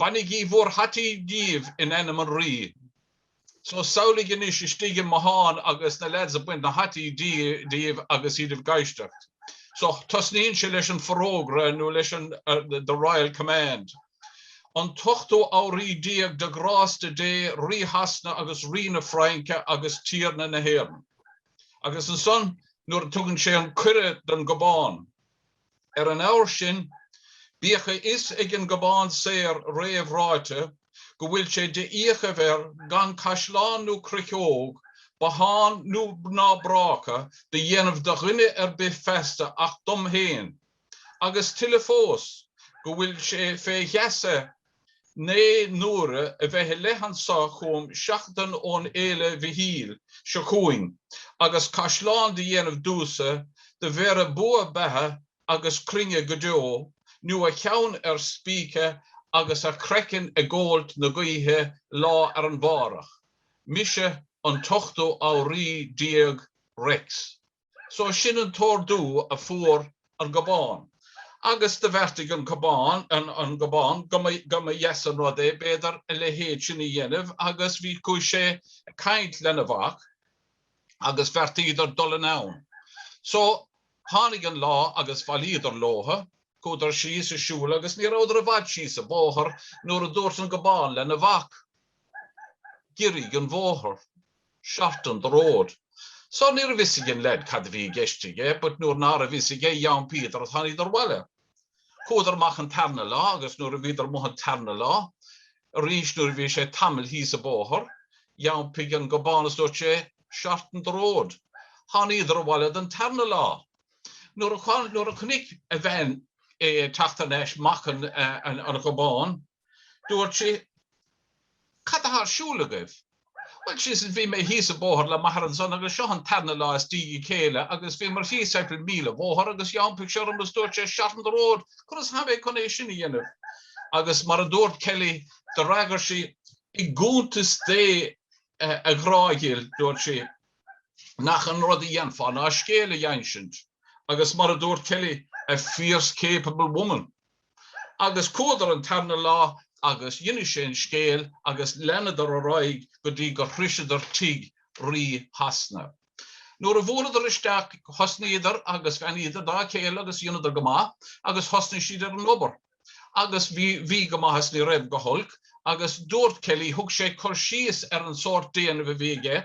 Bainigí bhur hataí díbh in ainm an Rí. So, samhlaigh anois istigh i mbothán agus na lads ag baint na hataí díobh agus iad ag éisteacht. So, tosnaíonn sé leis an forógra nó leis an the royal command. An t-ochtú Anraí Déag de ghrásta Dé, Rí Shasana agus Rí na Fraince agus Tiarna na hÉireann. Agus ansan nuair a tugann sé an cuireadh don Gobán. Ar an ábhar sin, bíodh a fhios ag an Gobán Saor réamhráite go bhfuil sé de fhiachaibh air gan caisleán nó cruiceog, bothán nó ná bráca do dhéanamh do dhuine ar bith feasta ach dom féin, agus tuilleadh fós, go bhfuil sé fé gheasa Naoi n-uaire a bheith i leith anso chugham seachtain ón fhéile Mhichíl seo chugainn agus caisleán do dhéanamh domhsa do bhéarfadh bua beatha agus cruinne go deo nú a cheann ar spíce agus a chraiceann ag góilt na gaoithe lá arna mhárach. Mise an t-ochtú Anraí déag Rex. So sin an t-ordú a fuair an Gobán. Agus do bheartaigh an Gobán, an Gobán, go mba dheas an rud é, b'fhéidir, a leithéid sin a dhéanamh agus bhí, chuaigh sé ag caint lena mhac agus bheartaíodar dul anonn. So, tháinig an lá agus bhailíodar leotha, chuadar síos ag siúl agus ní rabhadar i bhfad síos an bóthar nuair a dúirt an Gobán lena mhac, Giorraigh an bóthar. 'Shorten the road'. So níorbh fhios ag an leaid cad a bhí i gceist aige but nuair nárbh fhios aige d'iompaíodar, tháiníodar abhaile. Chuadar amach an tarna lá agus nuair a bhíodar amuigh an tarna lá arís nuair a bhí sé tamall thíos a' bóthar, d'iompaigh an Gobán is dúirt sé 'shorten the road'. Tháiníodar abhaile don tarna lá. Nuair a chonaic a bhean é ag teacht thar n-ais mac an Ghobáin, Dúirt sí, Cad atá ar siúl agaibh? Bhuel, ar seisean, bhí mé thíos an bóthar le m'athair ansan agus seo an tarna lá as diaidh a chéile agus bhíomar thíos timpeall míle bhóthar agus d'iompaigh sé orm agus dúirt sé, Shorten the road! Conas athá mé chun é sin a dhéanamh? Agus mar a dúirt Kelly, d'fhreagair sí, I gcuntas Dé, a ghrá dhil, dúirt sí, nach é an rud a dhéanfá ná scéal a dh'insint, agus mar a dúirt Kelly, a fierce capable woman. Agus chuadar an tarna lá agus d'inis sé an scéal agus leanadar ar aghaidh go dtí gur shroiseadar tigh Rí Shasana. Nuair a bhuaileadar isteach thosnaíodar agus bheannaíodar dá chéile agus dheineadar go maith agus thosnaigh siad ar an obair. Agus bhí, bhí go maith is ní raibh go holc agus dúirt Kelly, thug sé cur síos ar an sórt déanamh a bhí aige,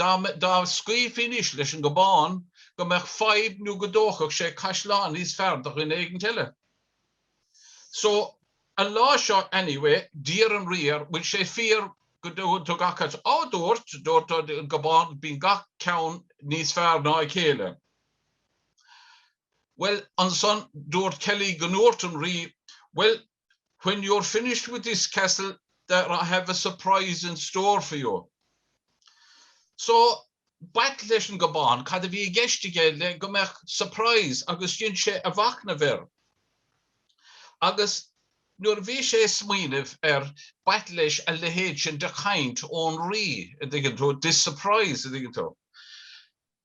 Dá scaoilfí anois leis an Gobán go mbeadh fadhb nó go dtógfadh sé caisleán níos fearr do dhuine éigint eile. So, an lá seo anyway, d'iarr an Rí air, bhfuil sé fíor go dtug acc. Á, dúirt, dúirt an Gobán, bíonn gach ceann níos fearr ná a chéile. Bhuel, ansan, dúirt Kelly go ndúirt an Rí, bhuel, When you're finished with this castle there I have a surprise in store for you. So b'ait leis an Gobán cad a bhí i gceist aige le go mbeadh surprise agus dhein sé a mhacnamh air. Agus nuair a bhí sé ag smaoineamh air, b'ait leis a leithéid sin de chaint ón rí, a dtuigeann tú, this surprise, a dtuigeann tú.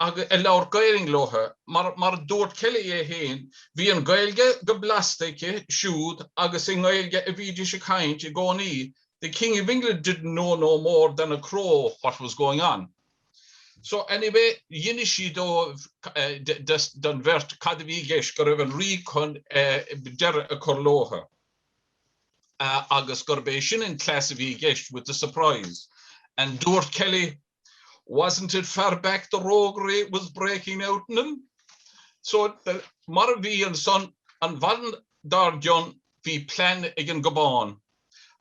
agus a labhair Gaelainn leo. Mar a dúirt Kelly é féin, bhí an Ghaeilge go blasta aici siúd agus i nGaeilge a bhídís ag caint i gcónaí, The King of England didn't know no more than a crow what was going on. So anyway, d'inis sí dóibh, don bheirt, cad a bhí i gceist, go raibh an Rí chun deireadh a chur leo agus gurb é sin an cleas a bhí i gceist, with the surprise. And dúirt Kelly, Wasn't it far back the roguery was breaking out in him? So, mar a bhí ansan, an mhaidin dár gcionn, bhí plean ag an Gobán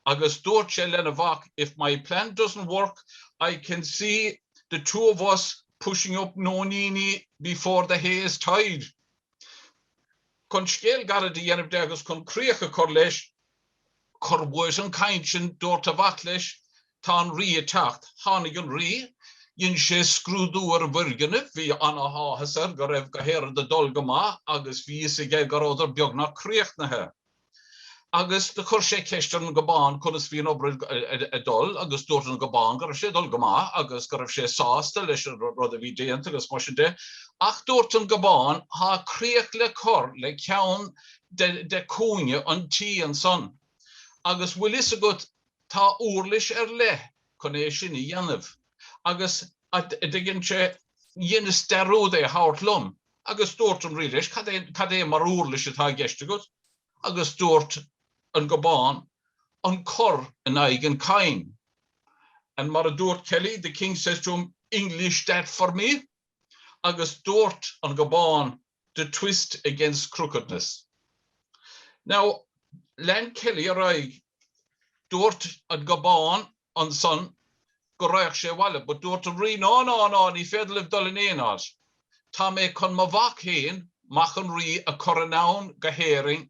agus dúirt sé lena mhac, If my plan doesn't work, I can see the two of us pushing up nóiníní before the hay is tied. Chun scéal gairid a dhéanamh de agus chun críoch a chur leis, Cuir uait an chainnt sin dubhairt a mhac leis tá an rí ag teacht. Tháinig an rí. Dhein sé scrúdú ar an bhfoirgnimh. Bhí ana áthas air go raibh gach aon rud ag dul go maith agus bhí fhios aige go rabhadar beagnach críochnaithe. Agus do chuir sé ceist ar an nGobán conas bhí an obair ag dul agus dubhairt an gobán go raibh sé ag dul go maith agus go raibh sé sásta leis an rud a bhí déanta agus mar sin de. Ach dubhairt an gobán tá críoch le cur le ceann de chúinne an tí ansan. Agus bhfuil fhios agat, tá úirlis ar leith chun é sin a dhéanamh. Agus, an dtuigeann sé, dheineas dearúd é a thabhairt liom. Agus dúirt an Rí leis, cad é mar úirlis atá i gceist agat? Agus dúirt an Gobán, an cor in aghaidh an chaim. And mar a dúirt Kelly, the King says to him, English that for me? Agus dúirt an Gobán, the twist against crookedness. Now, lean Kelly ar aghaidh, Dúirt an Gobán ansan go raghadh sé abhaile but dúirt an Rí Ná, ná, ná, ní féidir libh dul in aon áit. Tá mé chun mo mhac fhéin, mac an Rí, a chur anonn go hÉirinn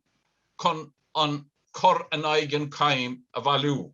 chun an cor in aghaidh an chaim a bhailiú.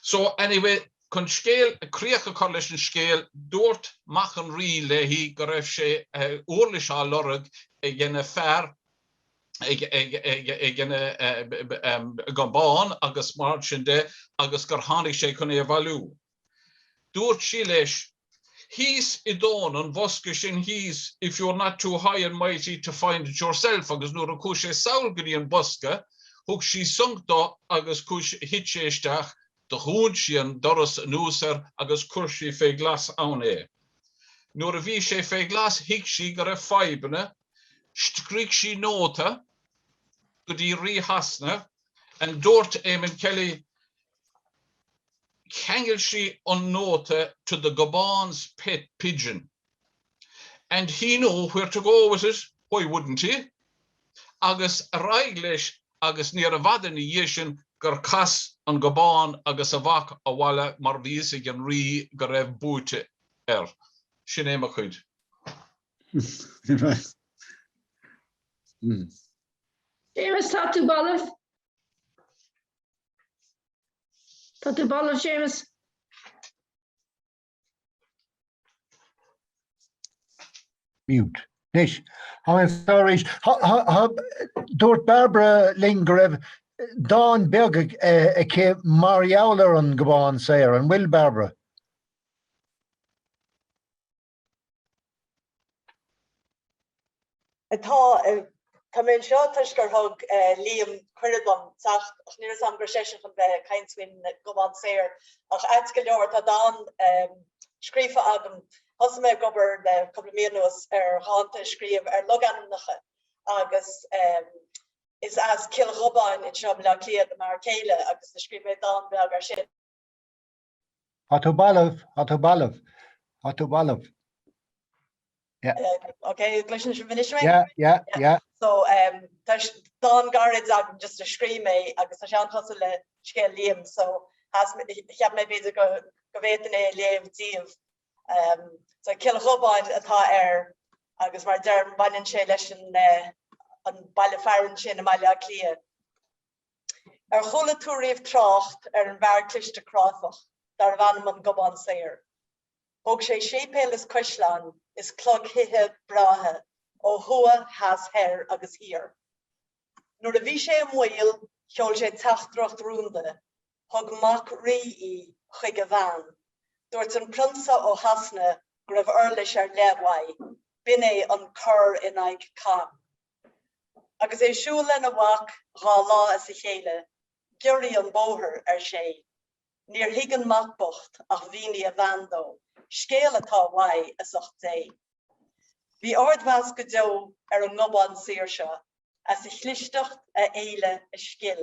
So, anyway, chun scéal, críoch a chur leis an scéal, dúirt mac an Rí léi go raibh sé úirlis á lorg ag an bhfear ag an nGobán agus mar sin de agus gur tháinig sé chun é a bhailiú. Dúirt sí leis thíos i dtóin an bhosca sin thíos if you're not too high and mighty to find it yourself agus nuair a chuaigh sé sall go dtí an bosca thug sí sonc dó agus thit sé isteach dhún sí an doras anuas air agus chuir sí fé ghlas ann é. Nuair a bhí sé fé ghlas thuig sí go raibh fadhbanna scrígh sí nóta go dtí Rí Shasana and dúirt Eamon Kelly, cheangail sí an nóta 'to the Gobán's pet pigeon and he knew where to go with it, why wouldn't he? agus ar aghaidh leis agus níorbh fhada ina dhiaidh sin gur chas an Gobán agus a mhac abhaile mar bhí fhios ag an Rí go raibh buaite air. Sin é mo chuid. Séamus, tá tú balbh? Tá tú balbh, Séamus. Mute. Anois, tháinig an fear arís. Dúirt Bairbre linn go raibh dán beag aici mar gheall ar an nGobán Saor. An bhfuil, Bairbre? Tá. Tá mé anseo toisc gur thug Liam cuireadh dom teacht ach ní raibh a fhios agam go raibh seisean chun bheith ag caint faoin nGobán Saor ach ait go leor tá dán scríofa agam. Thosaigh mé ag obair le cúpla mí anuas ar dhánta a scríobh ar logainmneacha agus is as Cill Ghobáin anseo i mBleá Cliath do m'fhear céile agus do scríobh mé dán beag ar sin. Tá tú balbh, tá tú balbh, tá tú balbh. Yeah. Um, ok, an gcloiseann sibh anois mé? Yeah, yeah, yeah. So, um, tá dán gairid agam just a scríobh mé agus tá sé an-chosúil le scéal Liam, so cheap mé, cheap mé b'fhéidir go, go bhféadfainn é a léamh daoibh. Um, so, Cill Ghobáin atá air, agus mar a deirim, baineann sé leis an, uh, an baile fearainn sin i mBaile Átha Cliath. Ar chuala tú riamh trácht ar an bhfear cliste cráifeach darbh ainm an Gobán Saor? Thóg sé séipéil is caisleáin is clogthithe breátha ó thuaidh, theas, thoir agus thiar. Nuair a bhí sé i mbaol, sheol sé teachtaireacht rúnda, thug mac rí í chuig a bhean. Dúirt an prionsa ó Shasana go raibh uirlis ar leith uaidh, b'in é an cor in aghaidh cam. Agus é ag siúl lena mhac dhá lá as a chéile, giorraigh an bóthar, ar sé. Níor thuig an mac bocht ach mhínigh a bhean dó scéal atá uaidh as ucht Dé. Bhí ardmheas go deo ar an nGobán Saor seo as a chlisteacht, a fhéile, a scil.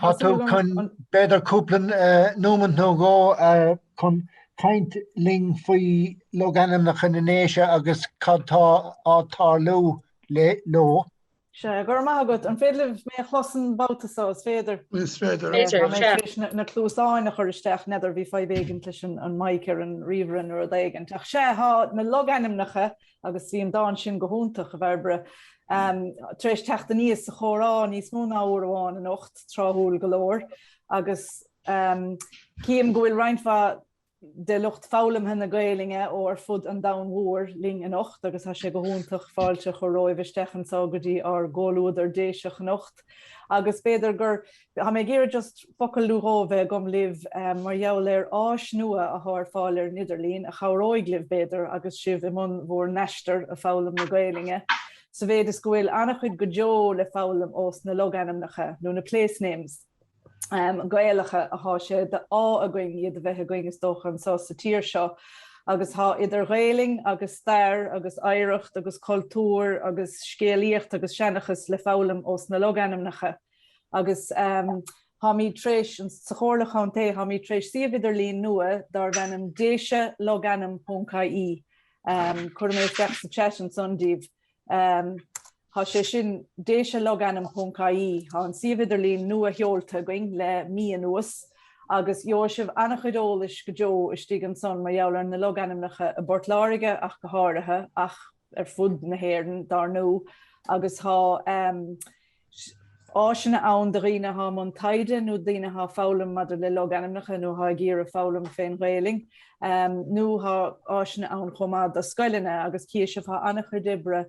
Thá tú chun b'fhéidir cúpla nóimeant nó dhó chun caint linn faoi logainmneacha na nDéise agus cad tá á tarlú leo. Sea, go raibh maith agat. An féidir libh mé a chlos an babhta so, is féidir? Is féidir. Is féidir, sea. Tá mé tar éis na cluasáin a chur isteach, n'fheadar, bhí fadhb éigin leis an mic ar an ríomhaire nó rud éigin. Ach sea, tá na logainmneacha agus bhí an dán sin go hiontach, a Bhairbre, tar éis teacht aníos sa chomhrá níos mó ná uair amháin anocht, tráthúil go leor, agus cím go bhfuil roinnt mhaith de lucht foghlamtha na Gaelainne ó ar fud an domhain mhóir linn anocht agus thá sé go hiontach fáilte a chur romhaibh isteach anso go dtí ár gcomhluadar Déiseach anocht agus b'fhéidir gur Thá mé ag iarraidh just focal nó dhó a bheith agam libh mar gheall ar áis nua athá ar fáil ar an idirlíon a chabhróidh libh, b'fhéidir, agus sibh i mbun bhur n-aistear ag foghlaim na Gaelainne, sa mhéid is go bhfuil an-chuid go deo le foghlaim ós na logainmneacha, nó na place-names, Gaelacha athá sé d'ádh againn iad a bheith againn, is dócha, anso sa tír seo. Agus thá idir Ghaelainn agus stair agus oidhreacht agus cultúr agus scéalaíocht agus seanchas le foghlaim ós na logainmneacha. Agus tháimid tar éis, sa Chomhairle Chontae, tháimid tar éis suíomh idirlín nua darb ainm Déise Logainm ponc ie. Cuirfidh mé isteach sa chat ansan daoibh. Tá sé sin, Déise Logainm ponc ie. Tá an suíomh idirlín nuasheolta againn le mí anuas agus gheobhaidh sibh an-chuid eolais go deo istigh ansan mar gheall ar na logainmneacha i bPort Láirge ach go háirithe, ach. ar fud na hÉireann, dar ndó, agus tá áiseanna ann do dhaoine atá i mbun taighde nó daoine atá ag foghlaim maidir le logainmneacha nó atá ag iarraidh foghlaim fén Ghaelainn, nó tá áiseanna ann chomh maith do scoileanna agus cífidh sibh, thá an-chuid oibre,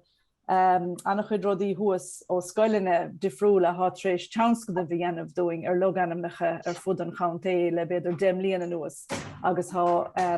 an-chuid rudaí thuas ó scoileanna difriúla atá tar éis tionscadail a dhéanamh dúinn ar logainmneacha ar fud an chontae le b'fhéidir deich mbliain anuas agus tá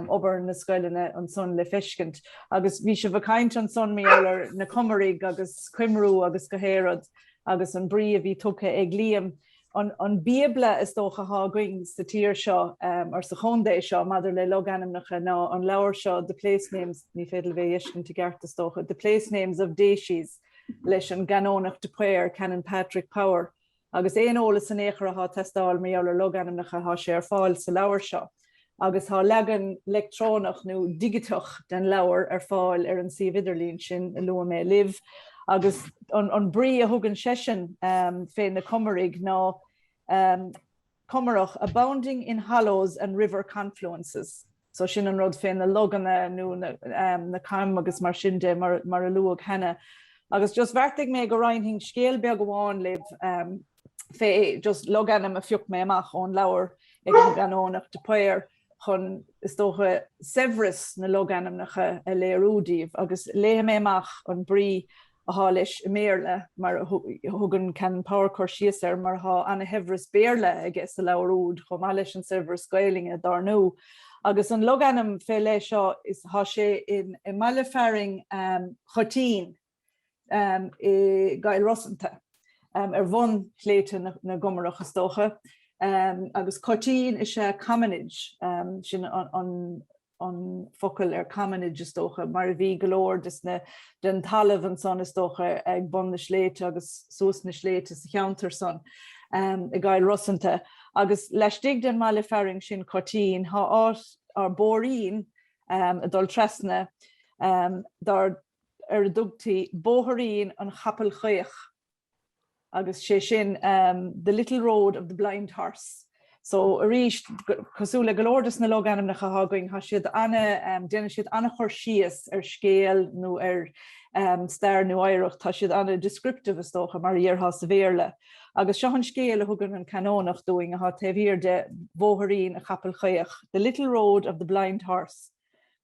obair na scoileanna ansan le feiscint. Agus bhí sibh ag caint ansan, mar gheall ar na Comaraigh agus Cymru agus go háirid agus an brí a bhí tugtha ag Liam, an bíobla, is dócha, atá againn sa tír seo, or sa chontae seo, maidir le logainmneacha ná an leabhar seo The Place Names, ní féidir libh é a fheiscint i gceart, is dócha, The Place Names of Decies leis an gCanónach de Paor, Canon Patrick Power. Agus aon eolas in aon chor athá ag teastáil mar gheall ar logainmneacha thá sé ar fáil sa leabhar seo. Agus thá leagan leictreonach nó digiteach den leabhar ar fáil ar an suíomh idirlín sin a luaigh mé libh. Agus an brí a thugann seisean fé na Comaraigh ná Comarach abounding in hollows and river confluences. so sin an rud fé na loganna nó na coim agus mar sin de mar a luadh cheana. Agus just bheartaigh mé go roinnfinn scéal beag amháin libh fé just logainm a phioc mé amach ón leabhar ag an gCanónach de Paor chun, is dócha, saibhreas na logainmneacha a léiriú daoibh. Agus léifidh mé amach an brí atá leis i mBéarla, mar a thugann Canon Power cur síos air, mar tá ana-shaibhreas Béarla aige sa leabhar úd, chomh maith leis an saibhreas Gaelainne, dár ndú. Agus an logainm fé leith seo, is tá sé i mbaile fearainn Choitín i gCill Rosanta, ar bhun shléibhte na gComarach, is dócha, agus Coitín is ea commonage, sin an. an focal ar commonage, is dócha, mar a bhí go leor des na, den talamh ansan, is dócha, ag bun na sléibhte agus suas na sléibhte sa cheantar san, i gCill Rosanta. Agus laistigh den mbaile fearainn sin Coitín, thá áit or bóithrín ag dul trasna, dar, ar a dtugtaí Bóithrín an Chapaill Chaoch. agus sé sin The Little Road of the Blind Horse. So, arís, cosúil le go leor de na logainmneacha atá againn, tá siad ana, déanann siad ana chur síos ar scéal nó ar stair nó oidhreacht, tá siad ana descriptive, is dócha, mar a dhéarfá sa Bhéarla. Agus seo an scéal a thugann an Canónach dúinn, atá taobh thiar de Bhóthairín an Chapaill Chaoch, The Little Road of the Blind Horse.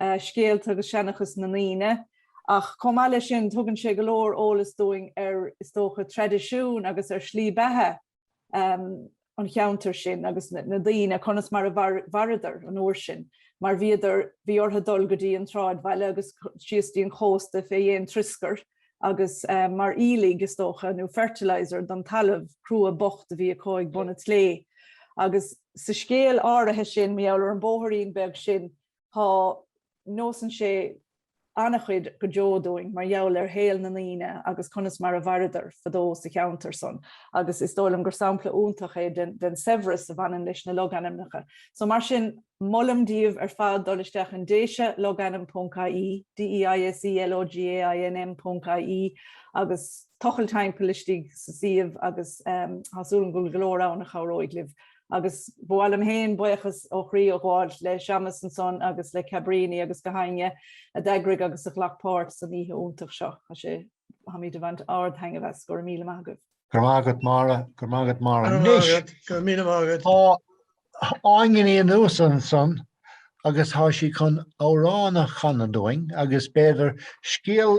scéalta agus seanchas na ndaoine. Ach chomh maith leis sin, tugann sé go leor eolas dúinn ar, is dócha, traidisiún agus ar shlí bheatha an cheantair sin agus na ndaoine, conas mar a mhaireadar an uair sin, mar bhíodar, bhí orthu dul go dtí an tsráidbhaile agus síos dtí an chósta fé dhéin trioscair agus mar aoiligh, is dócha, nó fertiliser don talamh crua bocht a bhí acu ag bun an tslé. Agus sa scéal áirithe sin, mar gheall ar an bóthairín beag sin, tá, neosann sé ana-chuid go deo dúinn mar gheall ar shaol na ndaoine agus conas mar a mhaireadar fadó sa cheantar san agus is dóigh liom gur sampla iontach é den saibhreas a bhaineann leis na logainmneacha. So mar sin, molaim daoibh ar fad dul isteach in Déise Logainm ponc IE, D-E-I-S-E L-O-G-A-I-N-M ponc IE agus tochailt timpeall istigh sa suíomh agus tá súil agam go bhfuil go leor ann a chabhróidh libh. agus ba mhaith liom féin buíochas ó chroí a ghabháil le Séamus ansan agus le Cabrini agus gach éinne a d'eagraigh agus a ghlac páirt san oíche iontach seo. Tá sé, táimid ag baint ard-thaitneamh as. Go raibh míle maith agat. Go raibh maith agat Máire, go raibh maith agat Máire. Go raibh maith agat, go raibh míle maith agat. Tá Áine Ní Fhiannúsa ansan agus tá sí chun amhrán a chanadh dúinn agus b'fhéidir scéal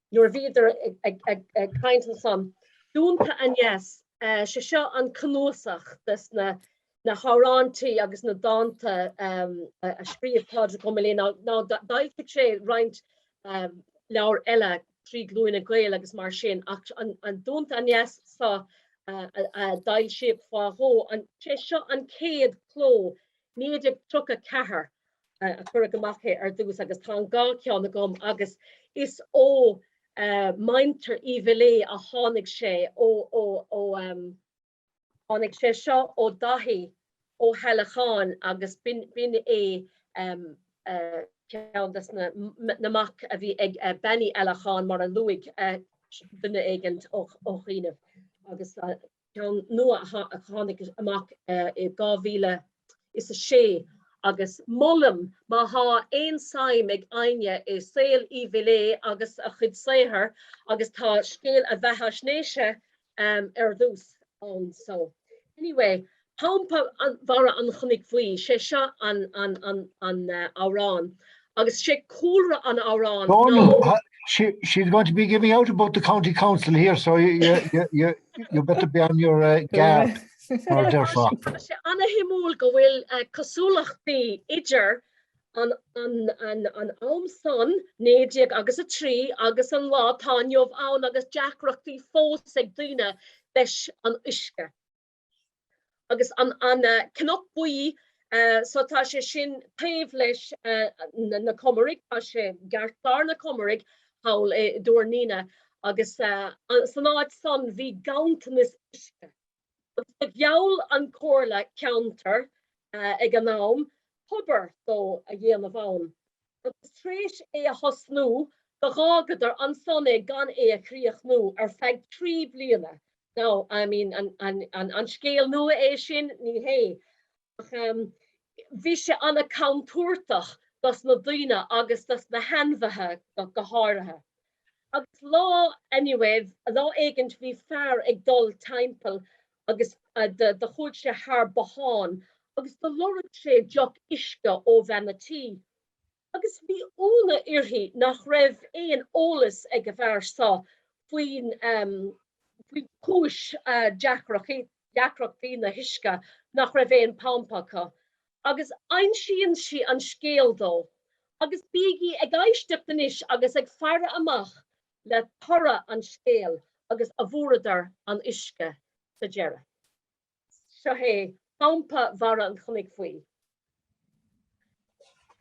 nuair a bhíodar ag caint ansan. Duanta Aneas, sé seo an cnuasach des na hamhráintí agus na dánta a scríobh Pádraig Ó Miléadha, now d'fhoilsigh sé roinnt leabhar eile Trí Glúine Gael agus mar sin ach an Duanta Aneas so a d'fhoilsíodh fá dhó, sé seo an chéad chló, 1934. a cuireadh amach é ar dtús agus tá an dhá cheann agam agus is ó mhuintir Uí Mhiléadha a tháinig sé ó ó ó tháinig sé seo ó Daithí Ó hEallacháin agus b'in b'in é ceann des na na mac a bhí ag Bean Uí Eallacháin mar a luaigh duine éigint ó ó chianaibh agus ceann nua a tháinig amach i 2006 agus molaim má thá aon suim ag éinne i saol Uí Mhiléadha agus a chuid saothair agus tá scéal a bheathaisnéise ar dtús ann so anyway Pumpa Bharra an Chnoic Bhuí sé seo an amhrán Agus sé cúlra an amhráin ná. Dónall, She she is going to be giving out about the County Council here so you you you you you better be on your uh, guard. Mar deirfá. Tá sé ana shuimiúil go bhfuil uh, cosúlachtaí idir an, an, an, an am san 19 agus a 3 agus an lá tá inniu ann agus deacrachtaí fós ag daoine leis an uisce. Agus an Cnoc Buí, so tá sé sin taobh leis na Comaraigh, tá sé i gceartlár na Comaraigh thall i dTuar an Fhíona, agus san áit san bhí ganntanas uisce. Agus do gheall an Comhairle Ceantair ag an am tobar dó a dhéanamh ann. agus tar éis é a thosnú, do dh'fhágadar ansan é gan é a chríochnú ar feadh trí bliana. Now, I mean, an an scéal nua é sin? Ní hé. Ach bhí sé ana contúirteach dos na daoine agus dos na hainmhithe go háirithe. Agus lá, anyway, lá éigint bhí fear ag dul timpeall agus do chuaidh sé thar bothán agus do loirg sé deoch uisce ó bhean an tí agus bhí iúnadh uirthi nach raibh aon eolas ag an bhfear so faoin chúis deacrachtaí na huisce nach raibh aon pump acu agus insíonn sí an scéal dó agus bígí ag éisteacht anois agus ag faire amach le toradh an scéil agus an bhfuaireadar an uisce sa deireadh. Seo é Pumpa Bharra an Chnoic Bhuí.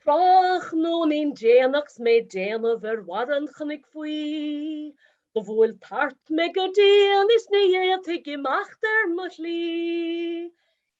Tráthnóinín déanach 's mé déanamh ar Bharra an Chnoic Bhuí, Do bhuail tart mé go dian is ní fhéadfainn imeacht ar mo shlí,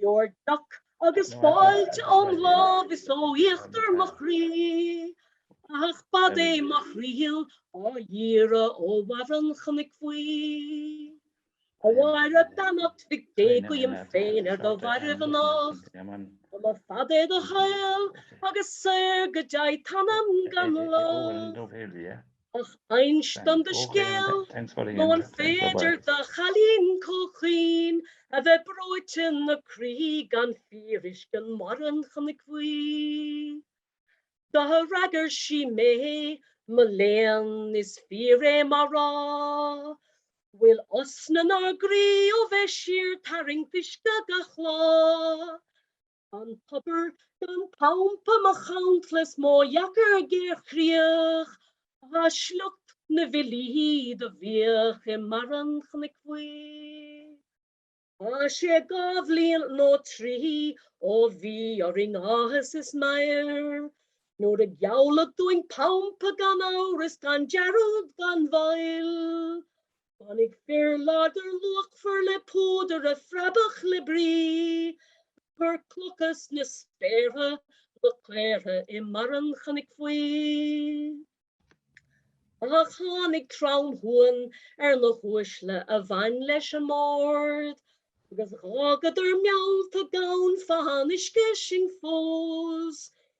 Gheobhair deoch agus fáilte óm lámh is ó íochtar mo chroí. Ach b'fhad é mo thriall á d'iarraidh ó Bharra an Chnoic Bhuí. A Mháire beannacht Mhic Dé guím féin ar do mhairbh anocht. Go mba fad é do shaol agus saor go dtéigh t'anam gan locht. Ach ins dom do scéal, nó an féidir do chailín comh caoin a bheith breoite ina croí gan fíoruisce i mBarra an Chnoic Bhuí? Do fhreagair sí mé, Mo léan, is fíor é mar rá bhfuil osna 'nár gcroí ó bheith síortharraingt uisce gach lá. An tobar gan pampa mo chantla is mo dheacair géarchríoch ag sliocht na bhfilí do bhíodh i mBarra an Chnoic Bhuí. Thá sé dhá bhliain nó trí ó bhí orainn áthas is meidhir, Nuair a gealladh dúinn pampa gan amhras gan dearúd gan mhoill, Tháinig fir láidir luachmhar le púdar a phreabadh le brí, ag cur clocha sna spéartha ina gcaortha i mBarra an Chnoic Bhuí. Ach tháinig tromshuan ar na huaisle a bhain leis an mBord, agus dh'fhágadar meallta gan fáthán uisce sinn fós,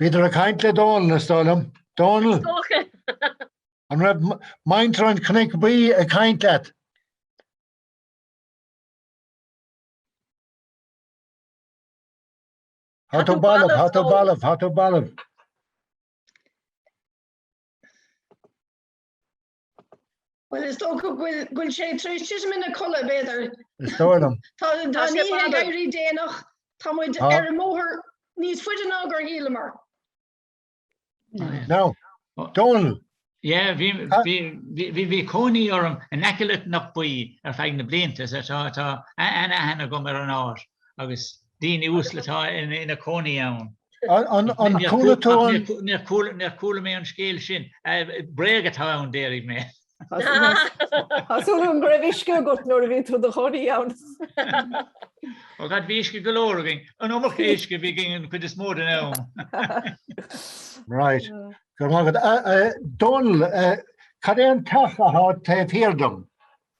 Bhíodar ag caint le Dónal, is dóigh liom. Dónal! An raibh muintir an Chnoic Bhuí ag caint leat? Thá tú balbh, thá tú balbh, thá tú balbh. Well is dócha bhfuil sé tar éis titim ina chodladh b'fhéidir. Is dóigh liom. Tá daoine ag éirí déanach, tá muid ar an mbóthar níos faide ná gur shíleamar. Now, Dónall. Yeah, bhí cónaí orm in aice le Knockboy ar feadh na blianta, so tá an-aithne agam ar an áit agus Daoine uasal atá ina cónaí ann. An chuala tú an. Níor chuala mé an scéal sin. Bréag atá ann, déarfaidh mé. Thá súil agam go raibh uisce agat nuair a bhí tú i do chónaí ann. Ó God, bhí uisce go leor againn. An iomarca uisce a bhí againn an chuid is mó den am. Right. Go raibh maith agat. Dónall, cad é an teach atá taobh thiar dom?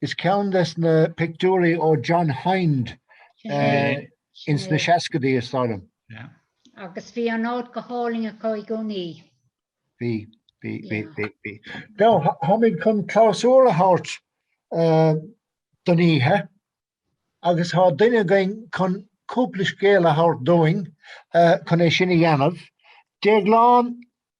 Is ceann des na pictiúirí ó John Hinde ins na seascaidí, is dóigh liom. Agus bhí an áit go hálainn acu i gcónaí. Bhí, bhí, bhí, bhí, bhí. Now, tháimid chun clabhsúr a thabhairt don oíche agus thá duine againn chun cúpla scéal a thabhairt dúinn chun é sin a dhéanamh. Déaglán,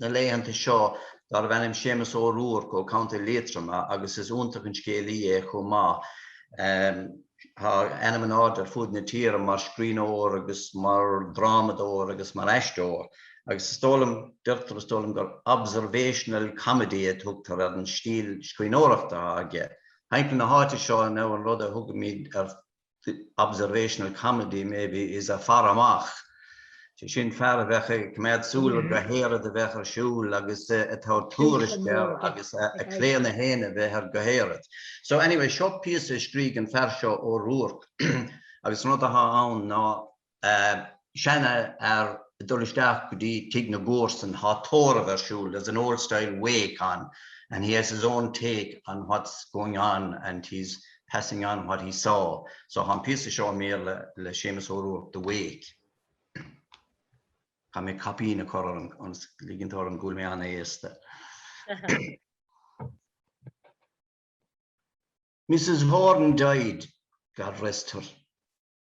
na laethanta seo darbh ainm Séamus Ó Ruairc ó Co. Liatroma agus is iontach an scéalaí é chomh maith. Thá ainm in airde ar fud na tíre mar scríbhneoir agus mar dhrámadóir agus mar aisteoir agus is dóigh liom, deirtear is dóigh liom, gur observational comedy a thugtar ar an stíl scríbhneoireachta atá aige. Thimpeall na háite seo now an rud a thugaimid air. the observational comedy maybe is ea faire amach. Sé sin fear a bheadh ag coimeád súil ar gach aon rud a bheadh ar siúl agus ag tabhairt tuairisc air agus a chlaonadh féin a bheith ar gach aon rud. So anyway, seo píosa a scrígh an fear seo Ó Ruairc agus an rud atá ann ná seanfhear ag dul isteach go dtí tigh na gcomharsan, tá tórramh ar siúl, there's an old style wake on and he has his own take on what's going on and he's passing on what he saw. So tá an píosa seo i mBéarla le Séamus Ó Ruairc, The Wake. Caithfidh mé caipín a chur orm agus ligint orm go bhfuil mé ana-aosta. Mrs. Horan died, God rest her.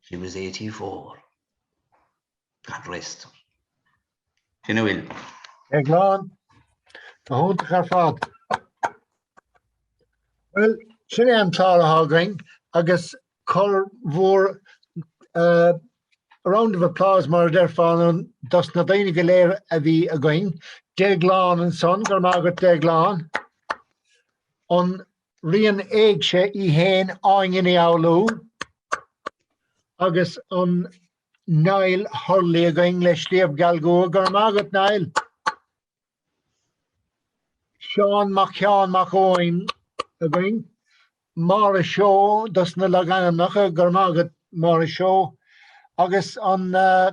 She was eighty four. God rest her. Sin a bhfuil. A Dhéagláin, go hiontach ar fad. Bhuel sin é an clár atá againn agus cur mhór uh, a round of applause mar a déarfá ann dos na daoine go léir a bhí againn. Déaglán ansan, go raibh maith agat, Déaglán, an ríon éigse í fhéin Áine Ní Fhoghlú agus an Niall Hurley againn le Sliabh Geal gCua. Go raibh maith agat, Niall. Seán Mac, Seán Mac Eoin againn. Máire Seó dos na logainmneacha. Go raibh maith agat, Máire Seó. Agus an uh,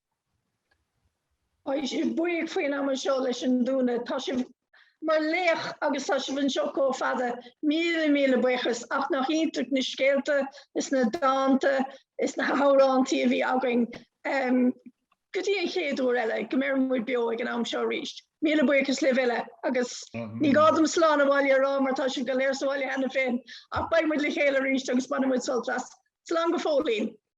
Is buíoch faoin am anseo leis an dúnadh. Tá sibh mar laoch agus tá sibh anseo comh fada. Míle míle buíochas. Ach nach iontach na scéalta is na dánta is na hamhráintí a bhí againn go dtí an chéad uair eile go mbeire muid beo ag an am seo arís. Míle buíochas libh uile agus ní gá dom slán abhaile a rá mar tá sibh go léir sa bhaile cheana féin ach beidh muid le chéile aríst agus bainfidh muid sult as. Slán go fóillín.